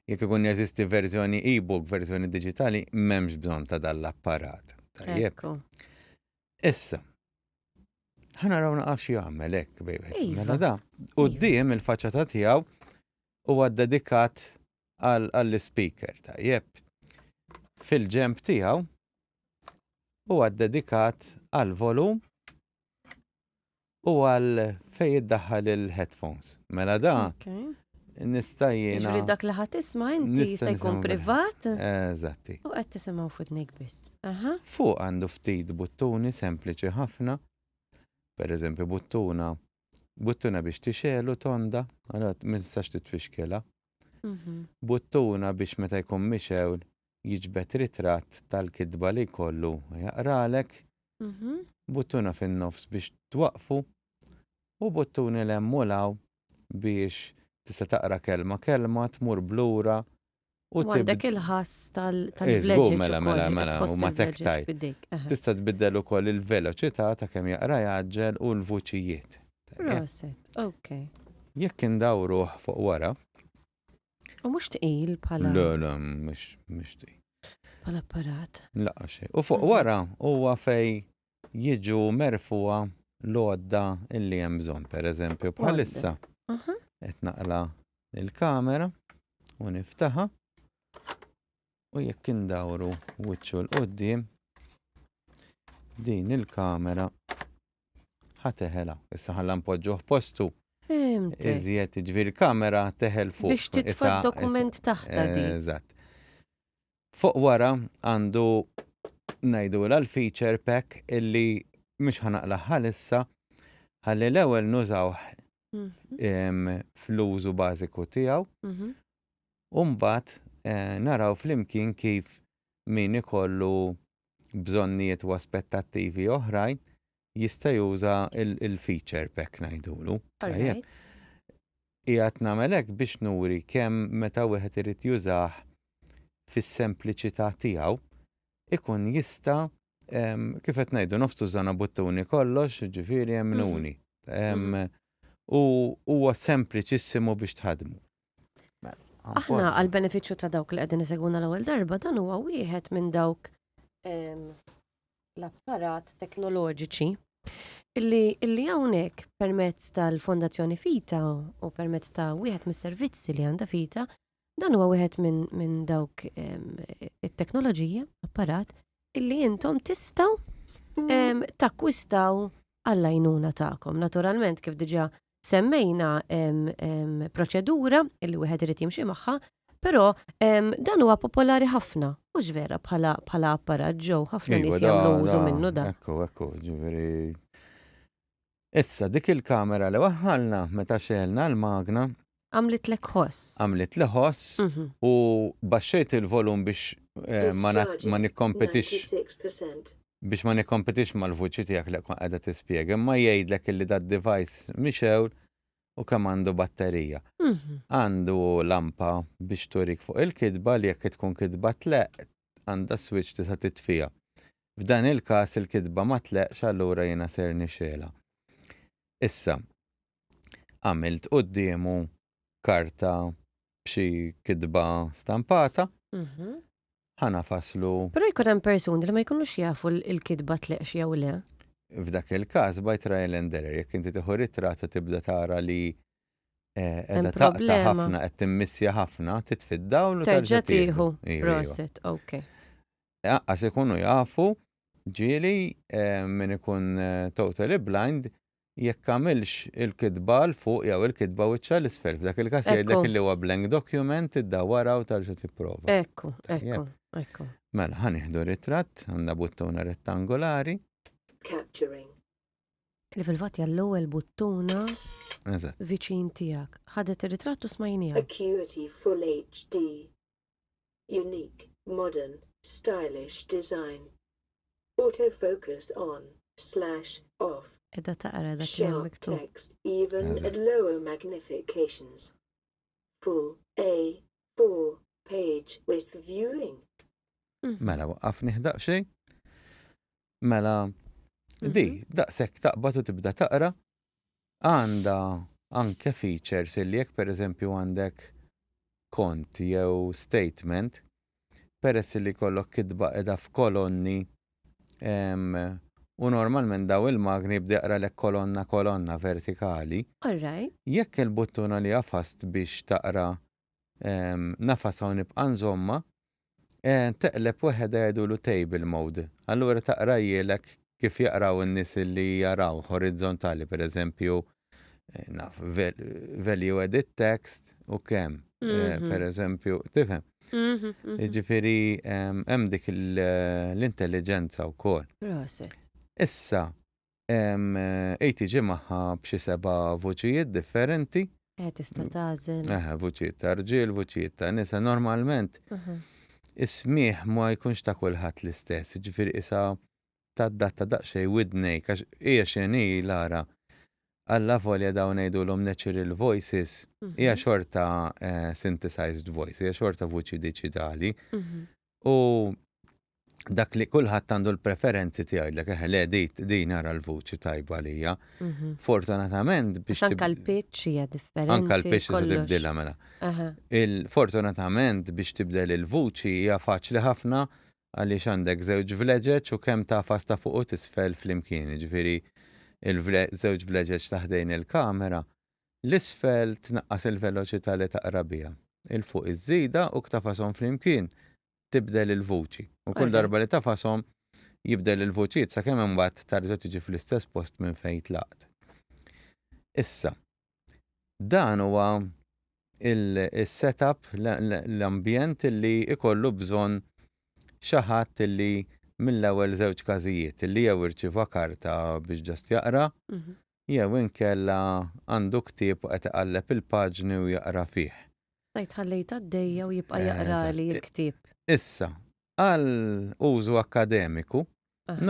jekk ikun jeżisti verżjoni e-book, verżjoni diġitali, m'hemmx bżonn ta' dan l-apparat. Tajjeb. Issa, ħa naraw naqaf xi jagħmel hekk bejwet. Iva. Mela da, quddiem iva. il-faċċata tiegħu huwa dedikat għall-speaker tajjeb. Fil-ġemp tiegħu huwa dedikat għall-volum U għal fejn iddaħħal il-headphones. Mela da nista' jiena. Jiġri dak li ħadd isma' inti jista' jkun privat. Eżatti. U qed tisimgħu f'idnik biss. Aha. Fuq għandu ftit buttuni sempliċi ħafna. Per eżempju buttuna buttuna biex tixel u tonda, għalat minsax titfixkela. Buttuna biex meta jkun mixew jiġbed ritratt tal-kitba li jkollu jaqralek, buttuna fin-nofs biex twaqqfu u buttuni 'l hemm u 'l hawn biex tista' taqra kelma kelma, tmur b'lura u tibda. U għandek il-ħass tal-vleġeġ. Żgur, mela, mela, mela, u ma tektaj. Tista' tbiddel ukoll il-veloċità ta' kemm jaqra jgħaġġel u l-vuċijiet. Proset, ok. Jekk indawruh fuq wara, U mhux tqil bħala. Le, le, mhux mhux tqil. Bħala apparat. Laqqa xej. U fuq wara huwa fej jiġu merfuha l-għodda illi hemm bżonn, pereżempju bħalissa. Aha. Qed naqla il-kamera u niftaħa. U jekk indawru wiċċu l-qoddim, din il-kamera ħateħela. Issa ħalla npoġġuh postu. Fimt. Iżjed ġvir kamera teħel fuq. Biex titfa dokument taħta di. Eżatt. Fuq wara għandu najdu l-feature pack illi mux ħanaqla ħalissa ħalli l-ewel nużaw mhm. fl-użu bażiku tiegħu mhm. u mbagħad naraw flimkien kif min ikollu bżonnijiet u aspettattivi oħrajn jista' juża l-feature b'hekk ngħidulu. Tajjeb. Qiegħed nagħmel hekk biex nuri kemm meta wieħed irid jużah fis-sempliċità tiegħu ikun jista' kif qed ngħidu nofs tużana buttuni kollox, jiġifieri hemm min hu uni. U huwa sempliċissimu biex tħaddmu. Aħna għal beneficju ta' dawk li qegħdin isegwuna l-ewwel darba dan huwa wieħed minn dawk l-apparat teknoloġiċi illi illi hawnhekk permezz tal-Fondazzjoni Fita u permezz ta' wieħed mis-servizzi li għandha Fita dan huwa wieħed minn min dawk it-teknoloġija apparat illi intom tistgħu takkwistaw għall-għajnuna tagħkom. Naturalment kif diġà semmejna proċedura li wieħed irid jimxi magħha, però dan huwa popolari ħafna, mhux vera bħala apparat ġew ħafna nies jagħmlu użu minnu dan. Ekku, ekku, ġifieri. Issa dik il-kamera li waħħalna meta xelna l-magna, Għamlitlek ħoss. Għamlitli ħoss u baxxejt il-volum biex ma nikkompetix biex ma nikkompetix mal-vuċi tiegħek li tkun qiegħda tispjega, imma jgħidlek illi dad-device mhix hawn u kemm għandu batterija. Għandu lampa biex turik fuq il-kitba li jekk tkun kitba tleqq għandha switch tista' titfiha. F'dan il-każ il-kitba ma tleqqx allura jiena ser nixgħelha. Issa, għamilt quddiemu karta b'xi kitba stampata, mhm. ħana faslu. Però jkun hemm persuni li ma jkunux jafu l-kitba tleqx jew le. F'dak il-każ by trial and error, jekk inti tieħu ritrat u tibda tara li eh, edha taqta ħafna, qed timmissja ħafna, titfid dawl u terġa' tieħu. Proset, ok. Aqqas ikunu jafu ġieli eh, min ikun eh, totally blind jekk għamilx il-kitba 'l fuq jew il-kitba wiċċha 'l isfel. F'dak il-każ jgħidlek illi huwa blank document, iddawwarha u terġa' tipprova. Ekku, ekku, ekku. Mela, ħa nieħdu ritratt, għandna buttuna rettangolari. Capturing. Li fil-fatt hija l-ewwel buttuna Eżatt. viċin tiegħek. Ħadet ir-ritratt u smajniha. Acuity Full HD. unique, modern, stylish design, autofocus on, slash, off, Qiegħda taqra dak li hemm sharp miktub. text even Eżatt. at lower magnifications, full A4 page with viewing. Mela waqqafni ħdaq xejn. Mela di Mhm. daqshekk taqbad u tibda taqra għandha anke features illi jekk pereżempju għandek kont jew statement, peress illi jkollok kitba qiegħda f'kolonni u normalment dawn il-magni jibda jaqralek kolonna kolonna vertikali. Alright. Jekk il-buttuna li għafast biex taqra nafas hawn nibqa' nżommha, teqleb weħedha jgħidulu table mode. Allura taqra jgħilek kif jaqraw in-nies li jaraw horizzontali, pereżempju, naf, value edit text u kemm, pereżempju, tifhem? Jiġifieri hemm dik l-intelliġenza wkoll. Proset. Issa, Hi tiġi magħha b'xi seba' vuċijiet differenti. Eh, tista' tagħżel. Eh, vuċijiet ta' rġiel, vuċijiet ta' nisa. Normalment is-smigħ ma jkunx ta' kulħadd l-istess, jiġifieri qisha tadatta daqsxejn widnejk għax hija x'inhi Lara. Alla volja dawn ngħidulhom natural voices, hija xorta synthesized voice, hija xorta vuċi diġitali. u dak li kulħadd għandu l-preferenzi tiegħi dak eħe le dit din ara l-vuċi tajba lija. Mhm. Fortunatament biex. Anka l-pitch hija differenti. Anka l-pitch se tibdilha mela. Fortunatament biex tibdel il-vuċi hija faċli ħafna għaliex għandek żewġ vleġeġ u kemm ta' fasta fuq u tisfel flimkien, ġifieri il-żewġ vleġeġ taħdejn il-kamera 'l isfel tnaqqas il-veloċità li taqra biha, 'il fuq iż-żida u ktafashom flimkien tibdel il-vuċi, u kull darba li tafashom jibdel il-vuċijiet sakemm imbagħad tarġa' tiġi fl-istess post minn fejn tlaqt. Issa, dan huwa s-setup, l-ambjent li jkollu bżonn xi ħadd li mill-ewwel żewġ każijiet, li jew irċieva karta biex just jaqra, jew inkella għandu ktieb u qed iqalleb il-paġni u jaqra fih. Stajt ħallejt għaddejja u jibqa' jaqrali l-ktieb. Issa, għal użu akkademiku,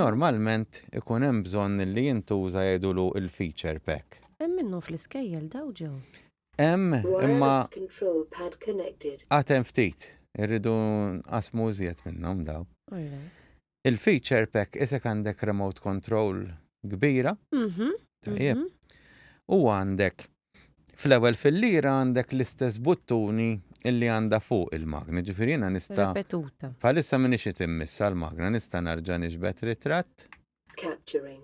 normalment ikun hemm bżonn li jintuża jgħidulu l-feature pack. Hemm minnhom fl-iskejjel dawn, Joe? Hemm, imma għad hemm ftit. Irridu nqassmu iżjed minnhom dawn. Il-feature pack isek għandek remote control kbira. Mhm. Tajjeb. Mhm. U għandek fl-ewwel fil-lira għandek l-istess buttuni illi għandha fuq il-magna, ġifieri jiena nista' Repetuta. Bħalissa minix qed immissa l-magna, nista' narġa' nixbet ritratt. Capturing.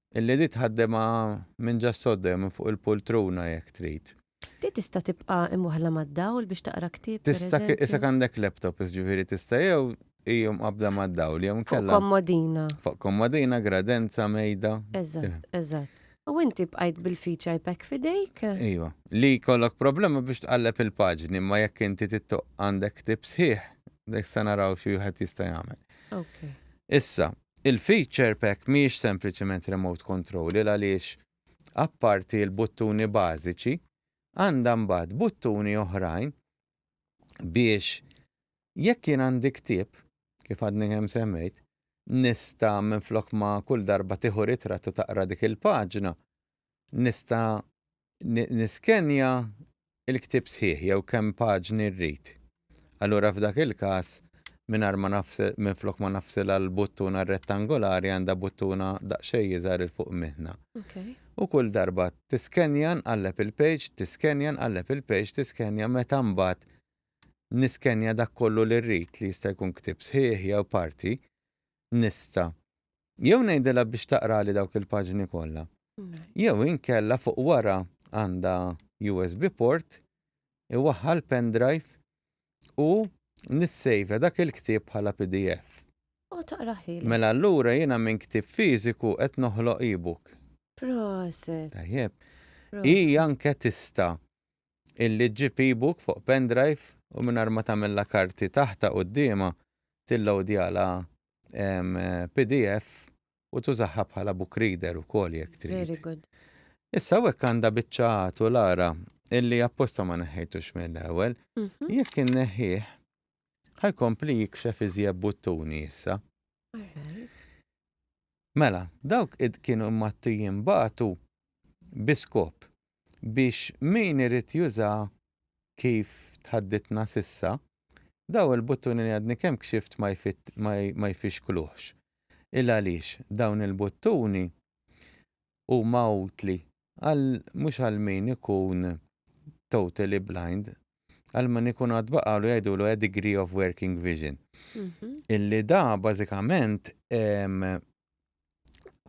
Illi di tħaddemha minn ġa s-sodda jew minn fuq il-pultruna jekk trid. Di tista' tibqa' imwaħħla mad-dawl biex taqra ktieb, pereżempju? Tista' isek għandek laptop ġifieri tista' jew hi mqabbda mad-dawl jew inkella. Fuq kommodina. Fuq kommodina, gradenza, mejda. Eżatt, eżatt. U inti bqajt bil-feature iPack f'idejk? Iva. Li jkollok problema biex tqalleb il-paġni imma jekk inti tittoqq għandek ktieb sħiħ, issa naraw xi wieħed jista' jagħmel. Issa, Il-feature pack mhijiex sempliċement remote control 'il għaliex apparti l-buttuni bażiċi għandha mbagħad buttuni oħrajn biex jekk jien għandi ktieb, kif għadni kemm semmejt, nista' minflok ma kull darba tieħu ritratt u taqra dik il-paġna, nista' niskenja l-ktieb sħiħ jew kemm paġni rrid. Allura f'dak il-każ, mingħajr ma nafsil, minflok ma nafsilha l-buttuna rettangolari għandha buttuna daqsxejn iżgħar 'il fuq minna. U kull darba tiskenja nqalleb il-page, tiskenja nqalleb il-page, tiskenja meta mbagħad niskenja dak kollu li rrid li jista' jkun ktieb sħiħ jew parti, nista' Jew ngħidilha biex taqrali dawk il-paġni kollha. Jew inkella fuq wara għandha USB port, iwaħħal l-pendrive u nissejvja dak il-ktieb bħala pdf. U taqrah lilha. Mela allura jiena minn ktieb fiżiku qed noħloq e-book. Proset! Tajjeb. Hi anke tista' illi ġġib e-book fuq pendrive u mingħajr ma tagħmilha karti taħtha quddiemha tilloadjalha pdf u tużaha bħala book reader ukoll jekk trid. Very good. Issa hekk għandha biċċa għatu l-ara illi apposta ma neħħejtux mill-ewwel, mhm. jekk inneħħih ħajkompli jikxef iżjeb buttuni issa. Mela, dawk id kienu mattijin batu biskop biex min irid jużaha kif tħaddidtna s'issa, dawn il-buttuni li għadni kemm kxift ma jfixkluhx. Il-għaliex dawn il-buttuni huma utli għal mhux għal min ikun totally blind, għal min ikun għad baqgħalu jgħidulu a degree of working vision. Illi da bażikament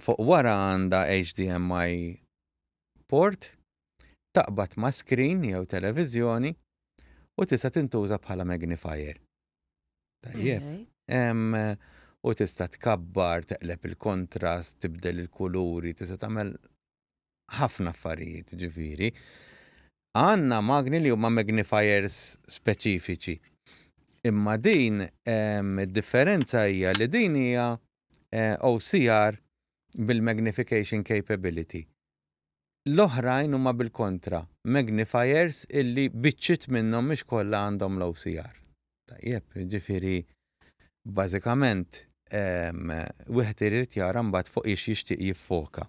fuq wara għandha HDMI port, taqbad ma' screen jew televiżjoni u tista' tintuża bħala magnifier. Tajjeb. U tista' tkabbar, teqleb il-kontrast, tibdel il-kuluri, tista' tagħmel ħafna affarijiet ġifieri. Għandna magni li huma magnifiers speċifiċi. Imma din id-differenza hija li din hija OCR bil-magnification capability. L-oħrajn huma bil-kontra, magnifiers illi biċċiet minnhom mhux kollha għandhom l-OCR. Tajjeb, jiġifieri bażikament wieħed irid jara mbagħad fuq ix jixtieq jiffoka.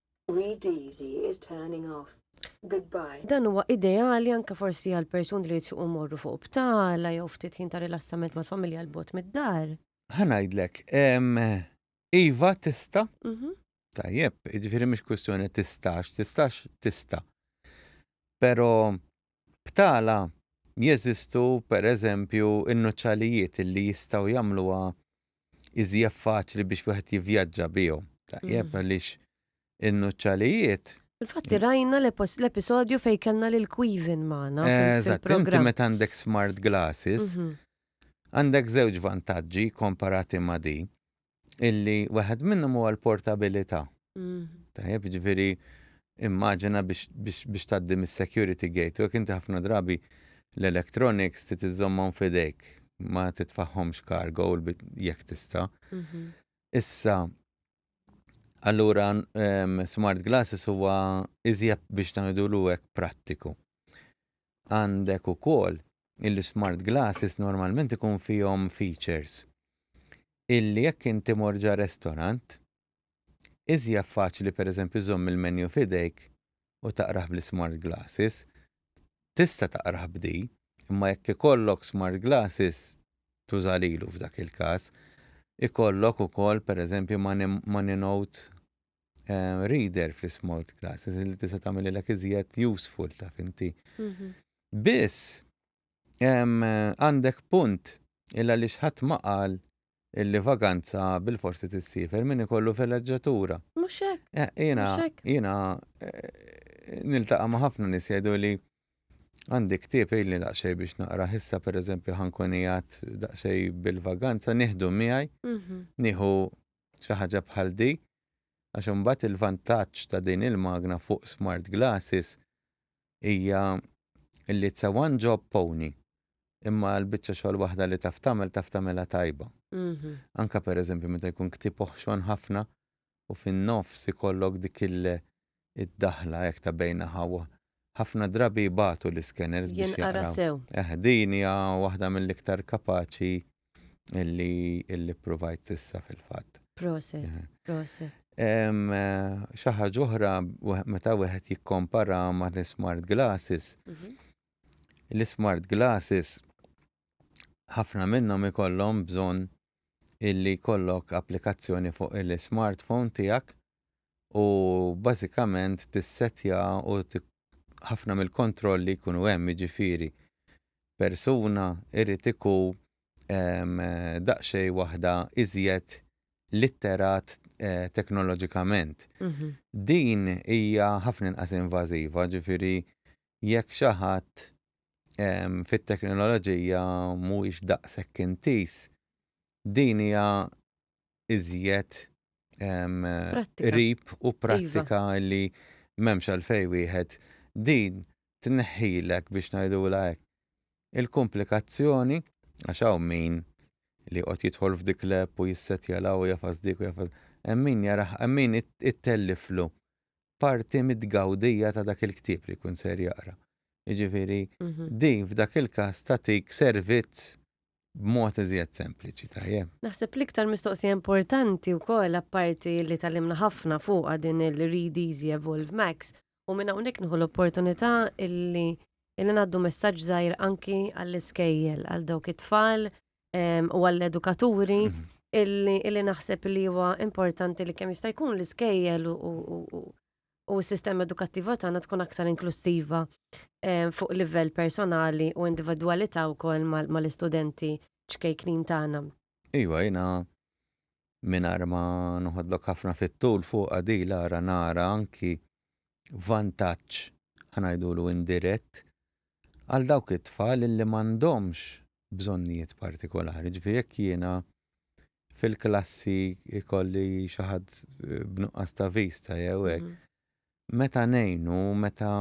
Reedeasy is turning off. Goodbye. Dan huwa ideali anke forsi għal persuni li jixtiequ jmorru fuq btala jew ftit ħin ta' rilassament mal-familja 'l bogħod mid-dar. Ħa ngħidlek, iva tista'. Mhm. Tajjeb, jiġifieri mhix kwistjoni tistax, tistax tista'. Però Btala, jeżistu, per eżempju, in-nuċċalijiet li jistgħu jagħmluha iżjef faċli biex wieħed jivvjaġġa bihom. Tajjeb għaliex in-nuċċalijiet Infatti rajna l-episodju fej kellna lil Quivin magħna. Eżatt, inti meta għandek smart glasses, mhm. għandek żewġ vantaġġi komparati ma' di. illi waħed minnhom huwa l-portabilità. Tajjeb, ġifieri immaġina biex tgħaddi mis-security gate u jekk inti ħafna drabi l-electronics trid iżżommhom f'idejk, ma titfagħhomx cargo jekk tista'. Issa, allura smart glasses huwa iżjed biex ngħidulu hekk prattiku. Għandek ukoll il-smart glasses normalment ikun fihom features illi jekk int imur ġa restorant, iżjaf faċli pereżempju żomm il-menu f'idejk u taqrah bl-ismart glasses. Tista' taqrah b'di, imma jekk ikollok smart glasses tuża lilu f'dak il-każ. Ikollok ukoll pereżempju money note eh, reader fl-small classes li tista' tagħmililek iżjed useful taf inti. Mhm. Biss għandek punt illa li xħat maqal illi vaganza bil-forsi tissifer minn ikollu fil-leġġatura. Muxek. Eh, jena, jena, eh, niltaqa ma ħafna nis jgħidu li għandi ktib illi daqxej biex naqra ħissa per eżempju ħankunijat daqxej bil-vaganza, nieħdu miegħi, mhm. nieħu xi ħaġa bħal di għax imbagħad il-vantaġġ ta' din il-magna fuq smart glasses hija li it's a one job pony imma l-biċċa xogħol waħda li taf tagħmel taf tagħmilha tajba. Anke pereżempju meta jkun ktieb oħxon ħafna u fin-nofs ikollok dik il- id-daħla hekk ta' bejn aha u aha. Ħafna drabi jbatu l-iskeners biex jaqraw. Jinqara sew. Eh, din hija waħda mill-iktar kapaċi illi illi ppruvajt s'issa fil-fatt. Proset, eh. proset. Xi ħaġa oħra meta wieħed jikkompara ma' l-smart glasses. Mhm. L-smart glasses ħafna minnhom ikollhom bżonn illi jkollok applikazzjoni fuq il-smartphone tiegħek u bażikament tissettja u ħafna mill-kontrolli jkunu hemm jiġifieri persuna irid iku daqsxejn waħda iżjed litterat eh, teknoloġikament. Mhm. Din hija ħafna inqas invażiva, ġifieri jekk xi ħadd fit-teknoloġija mhuwiex daqshekk intiż, din hija iżjed qrib u prattika iva. li m'hemmx għalfejn wieħed din tneħħilek biex ngħidulha hekk il-kumplikazzjoni għax hawn min li jqgħod jidħol f'dik l-app u jissettja l-hawn jafas dik u jafas hemm min jarah hemm min ittelliflu parti mit-tgawdija ta' dak il-ktieb li jkun ser jaqra. Jiġifieri mhm. din f'dak il-każ tagħtik servizz b'mod iżjed sempliċi tajjeb. Naħseb l-iktar mistoqsija importanti wkoll apparti li talimna ħafna fuqha din il-Read Easy Evolve Max u minn hawnhekk nieħu l-opportunità illi illi ngħaddu messaġġ żgħir anki għall-iskejjel għal dawk it-tfal u għall-edukaturi illi naħseb li huwa importanti li kemm jista' jkun l-iskejjel u s-sistema edukattiva tagħna tkun aktar inklusiva fuq livell personali u individwalità wkoll mal-istudenti ċkejknin tagħna. Iva, jiena mingħajr ma noħodlok ħafna fit-tul fuq għadila ara nara anki vantaġġ, ħa ngħidulu indirett, għal dawk it-tfal illi m'għandhomx bżonnijiet partikolari. Ġifieri jekk jiena fil-klassi jkolli xi ħadd b'nuqqas ta' vista jew hekk, mhm. meta ngħinu, meta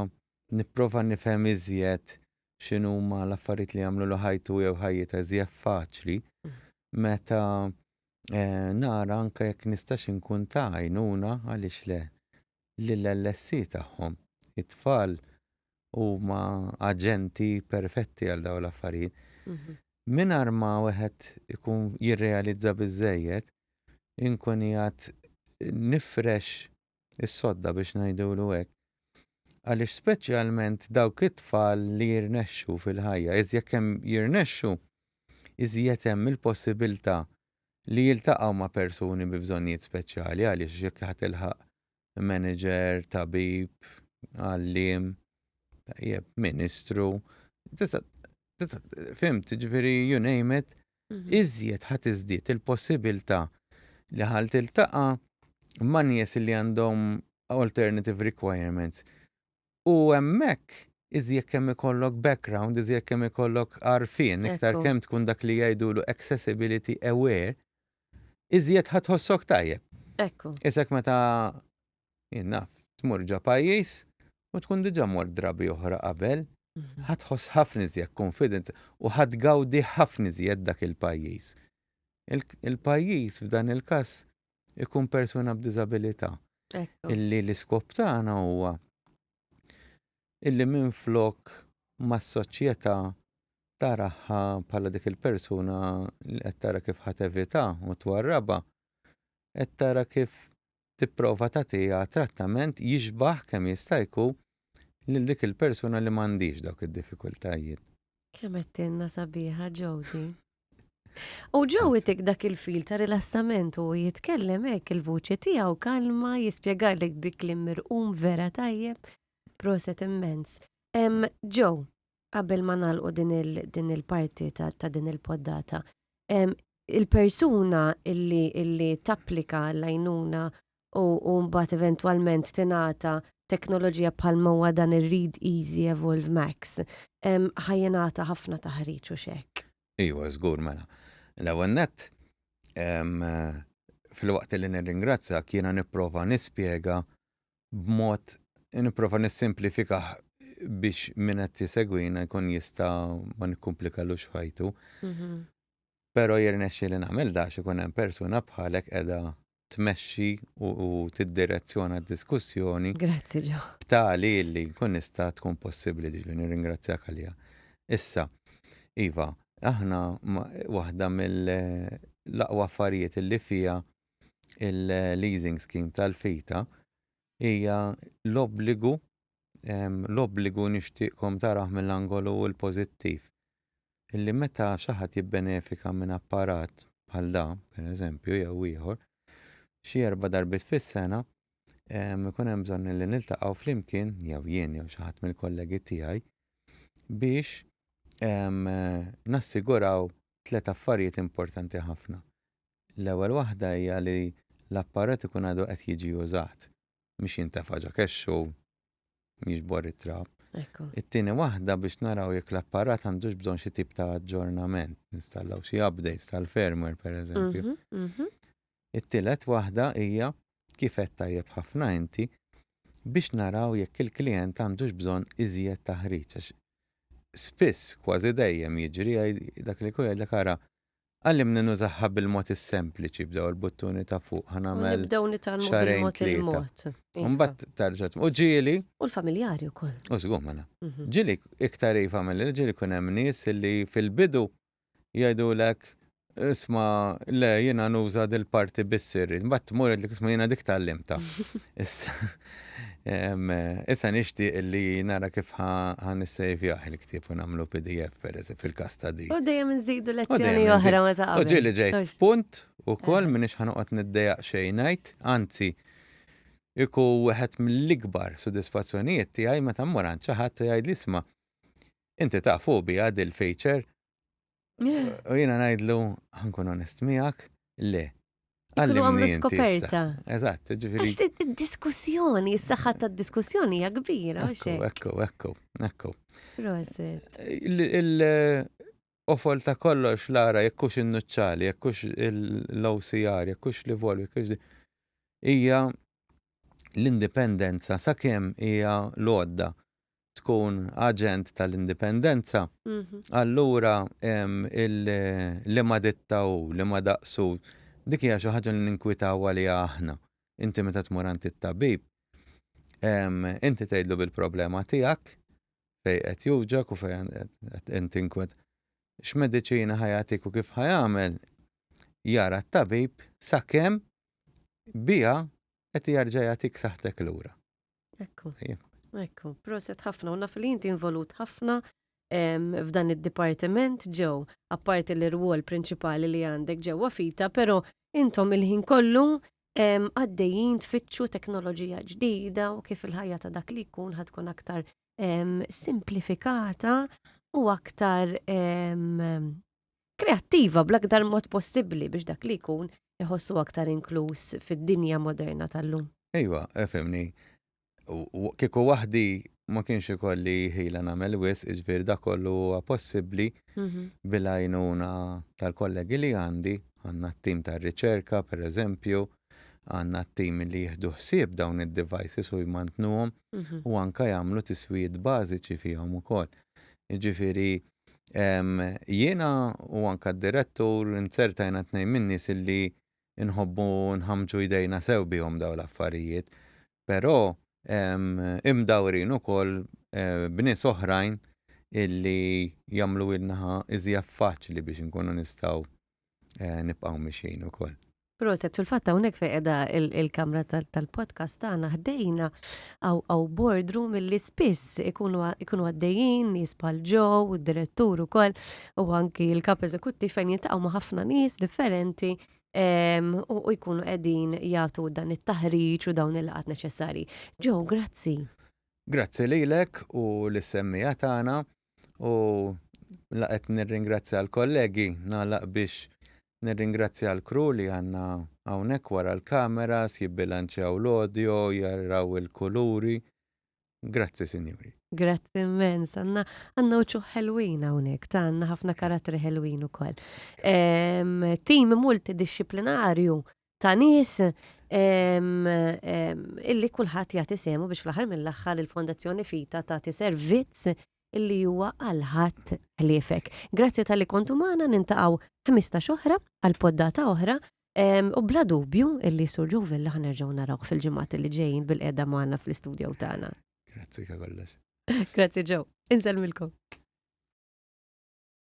nipprova nifhem iżjed x'inhuma l-affarijiet li jagħmlu l ħajtu jew ħajjita iżjed faċli, mhm. meta eh, nara anke jekk nistax inkun ta' għajnuna għaliex le lill-LSC tagħhom. It-tfal huma aġenti perfetti għal dawn l-affarijiet. Mhm. Minar ma wieħed ikun jirrealizza biżejjed, inkun jgħat nifrex is-sodda biex ngħidulu hekk. Għaliex speċjalment dawk it-tfal li jirnexxu fil-ħajja, iżjed kemm jirnexxu, iżjed hemm il-possibilità li jiltaqgħu ma' persuni bi bżonnijiet speċjali għaliex jekk ħa tilħaq manager, tabib, għalliem, tajjeb, ministru, tista' fimt, ġifieri you name it, iżjed ħa tiżdied il-possibilità li ħa tiltaqa' ma' nies li għandhom alternative requirements. U hemmhekk iżjed kemm ikollok background, iżjed kemm ikollok għarfien, iktar kemm tkun dak li jgħidulu accessibility aware, iżjed ħa tħossok tajjeb. Ekku. Isek meta Jien naf, tmur ġa pajjiż u tkun diġà mort drabi oħra qabel, ħa tħoss ħafna iżjed confident u ħa tgawdi ħafna iżjed dak il-pajjiż. Il-pajjiż f'dan il-każ ikun persuna b'diżabilità. Illi l-iskop tagħna huwa illi minflok ma s-soċjetà taraha bħala dik il-persuna li qed tara kif ħa tevitha u twarrabha, qed tara kif tipprova tagħtiha trattament jixbah kemm jista' jku lil dik il-persuna li m'għandhiex dawk id-diffikultajiet. Kemm għedtilna sabiħa Jody. U Joe itik dak il-fil ta' rilassament u jitkellem hekk il-vuċi tiegħu kalma jispjegalek bi kliem mirqum vera tajjeb. Proset immens. Em Joe, Qabel ma nagħlqu din il din il-parti ta' ta' din il-poddata, em, il-persuna illi illi tapplika l-għajnuna u u mbagħad eventwalment tingħata teknoloġija bħal ma huwa dan ir-Read Easy Evolve Max, em, ħa jingħata ħafna taħriġ hux hekk? Iva, żgur mela. L-ewwel nett, em, filwaqt li nirringrazzjak jiena nipprova nispjega b'mod nipprova nissimplifikah biex min qed jisegwina jkun jista' ma nikkumplikalux f'ħajtu. Mhm. Però jirnexxi li nagħmel dax ikun hemm persuna bħalek qiegħda tmexxi u tiddirezzjona d-diskussjoni. Grazzi ġo. B'tali li nkun nista' tkun possibbli diġu nirringrazzjak għalija. Issa, Iva, aħna waħda mill-aqwa affarijiet li fija il-leasing scheme tal-fita hija l-obbligu l-obbligu nixtieqkom taraħ mill-angolu l-pożittiv illi meta xi ħadd jibbenefika minn apparat bħal da, per eżempju, jew ieħor, xi erba' darbit fis-sena ikun hemm bżonn li niltaqgħu flimkien jew jien jew xi ħadd mill-kollegi tiegħi biex nassiguraw tliet affarijiet importanti ħafna. L-ewwel waħda hija li l-apparat ikun għadu qed jiġi użat, mhux jintefa' ġo kexx u jiġbor it-trab. It-tieni waħda biex naraw jekk l-apparat għandux bżonn xi tip ta' aġġornament, ninstallaw xi updates tal-firmware pereżempju. It-tielet waħda hija, kif għedt tajjeb ħafna inti, biex naraw jekk il-klijent għandux bżonn iżjed taħriġ għax spiss, kważi dejjem jiġri, dak li jkun jgħidlek ara Għallimni nużaha bil-mod is-sempliċi b'daw il-buttuni ta' fuq ħa nagħmel. Nibdew nitgħallmu xarejn tlieta. Iva. Mbagħad tarġa' u ġieli. U l-familjari wkoll. U żgur mela. Mhm. Ġieli iktar hi familja, ġieli kun hemm nies li fil-bidu jgħidulek isma' le jiena nuża dil-parti biss irrid. Mbagħad tmur jgħidlek isma' jiena dik tgħallimta. Issa nixtieq li nara kif ħan issejvjah il-ktieb u nagħmlu PDF pereżi fil-każ ta' di. U dejjem nżidu lezzjoni oħra ma ta' qabel. U ġieli ġejt f'punt ukoll minix ħanoqgħod niddejaq xejn ngħid, anzi iku wieħed mill-ikbar sodisfazzjonijiet tiegħi meta mmur għand xi ħadd u jgħidli isma' inti taf hu biha dil-feature U jiena ngħidlu ħankun onest miegħek, le. Għallu għamlu skoperta. Eżatt, ġifieri. Għax id-diskussjoni, s-saħħa tad-diskussjoni hija kbira. Ekku, ekku, ekku. Proset. Offol ta' kollox lara jekkux in-nuċċali, jekkux l-OCR, jekkux li volvi, jekkux hija l-indipendenza sakemm hija l-għodda tkun aġent tal-indipendenza, allura il-liema ditta hu, liema daqs hu, dik hija xi ħaġa li ninkwitaw għaliha aħna. Inti meta tmur għand it-tabib, inti tgħidlu bil-problema tiegħek, fejn qed jowġgħok u fejn qed tinkwiet. X'mediċina ħa jagħtik u kif ħa jagħmel, jara t-tabib sakemm biha qed jerġa' jagħtik saħħtek lura. Ekku. Ekku, proset ħafna, u naf li inti involut ħafna f'dan id-dipartiment ġew, apparti l rwol prinċipali li għandek ġewwa fita, pero intom il-ħin kollu għaddejjin tfittxu teknoloġija ġdida u kif il-ħajja ta' dak li jkun ħatkun aktar simplifikata u aktar kreattiva bl-aktar mod possibbli biex dak li jkun iħossu aktar inkluż fid-dinja moderna tal-lum. Ejwa, efimni, kieku waħdi ma kienx ikolli ħila nagħmel wis, iġvir da kollu huwa possibbli mhm. bil-għajnuna tal-kollegi li għandi, għandna t-tim tar-riċerka, per eżempju, għandna t-tim li jieħdu ħsieb dawn id-devices u jmantnuhom mhm. u anka jagħmlu tiswijiet bażiċi fihom ukoll. Ġifieri Jiena u anke d-Direttur inzertajna tnejn min-nies illi nħobbu nħammġu jdejna sew bihom dawn l-affarijiet, però imdawrin ukoll b'nies oħrajn illi jagħmluhielnha iżjef faċli biex inkunu nistgħu eh, nibqgħu mixin ukoll. Proset, fil-fatt hawnhekk fejn qiegħda il-kamra tal-podcast tagħna ħdejna għaw bordru milli spiss ikunu għaddejjin nies bħal ġew, id-direttur ukoll u anki l-kap eżekuttiv fejn jintaqgħu ma' ħafna nies differenti u jkunu qegħdin jagħtu dan it-taħriġ u dawn il-qat neċessari. Ġew, grazzi. Grazzi lilek u l-semmija tagħna. U laqet nirringrazzja l-kollegi, nagħlaq biex nirringrazzja l-kru li għandna hawnhekk wara l-kameras, jibbilanċjaw l-audio, jaraw il-kuluri. Grazzi, sinjuri. Grazzi immens, għandna għandna uċuħ ħelwin hawnhekk, ta għandna ħafna karattri ħelwin ukoll. Ehm, Tim multidixxiplinarju ta' nies illi kulħadd jagħti semu biex fl-aħħar mill-aħħar il-Fondazzjoni Fita tagħti servizz illi huwa għal ħadd ħliefek. Grazzi tal-li kontu magħna nintaqgħu 15 oħra għal poddata oħra u bla dubju illi Sur Ġuvilla ħanerġgħu narawh fil-ġimgħat li ġejjin bil-qiegħda magħna fl-istudju tagħna. Grazzi kollox. Grazzi ġew. Inselmilkom.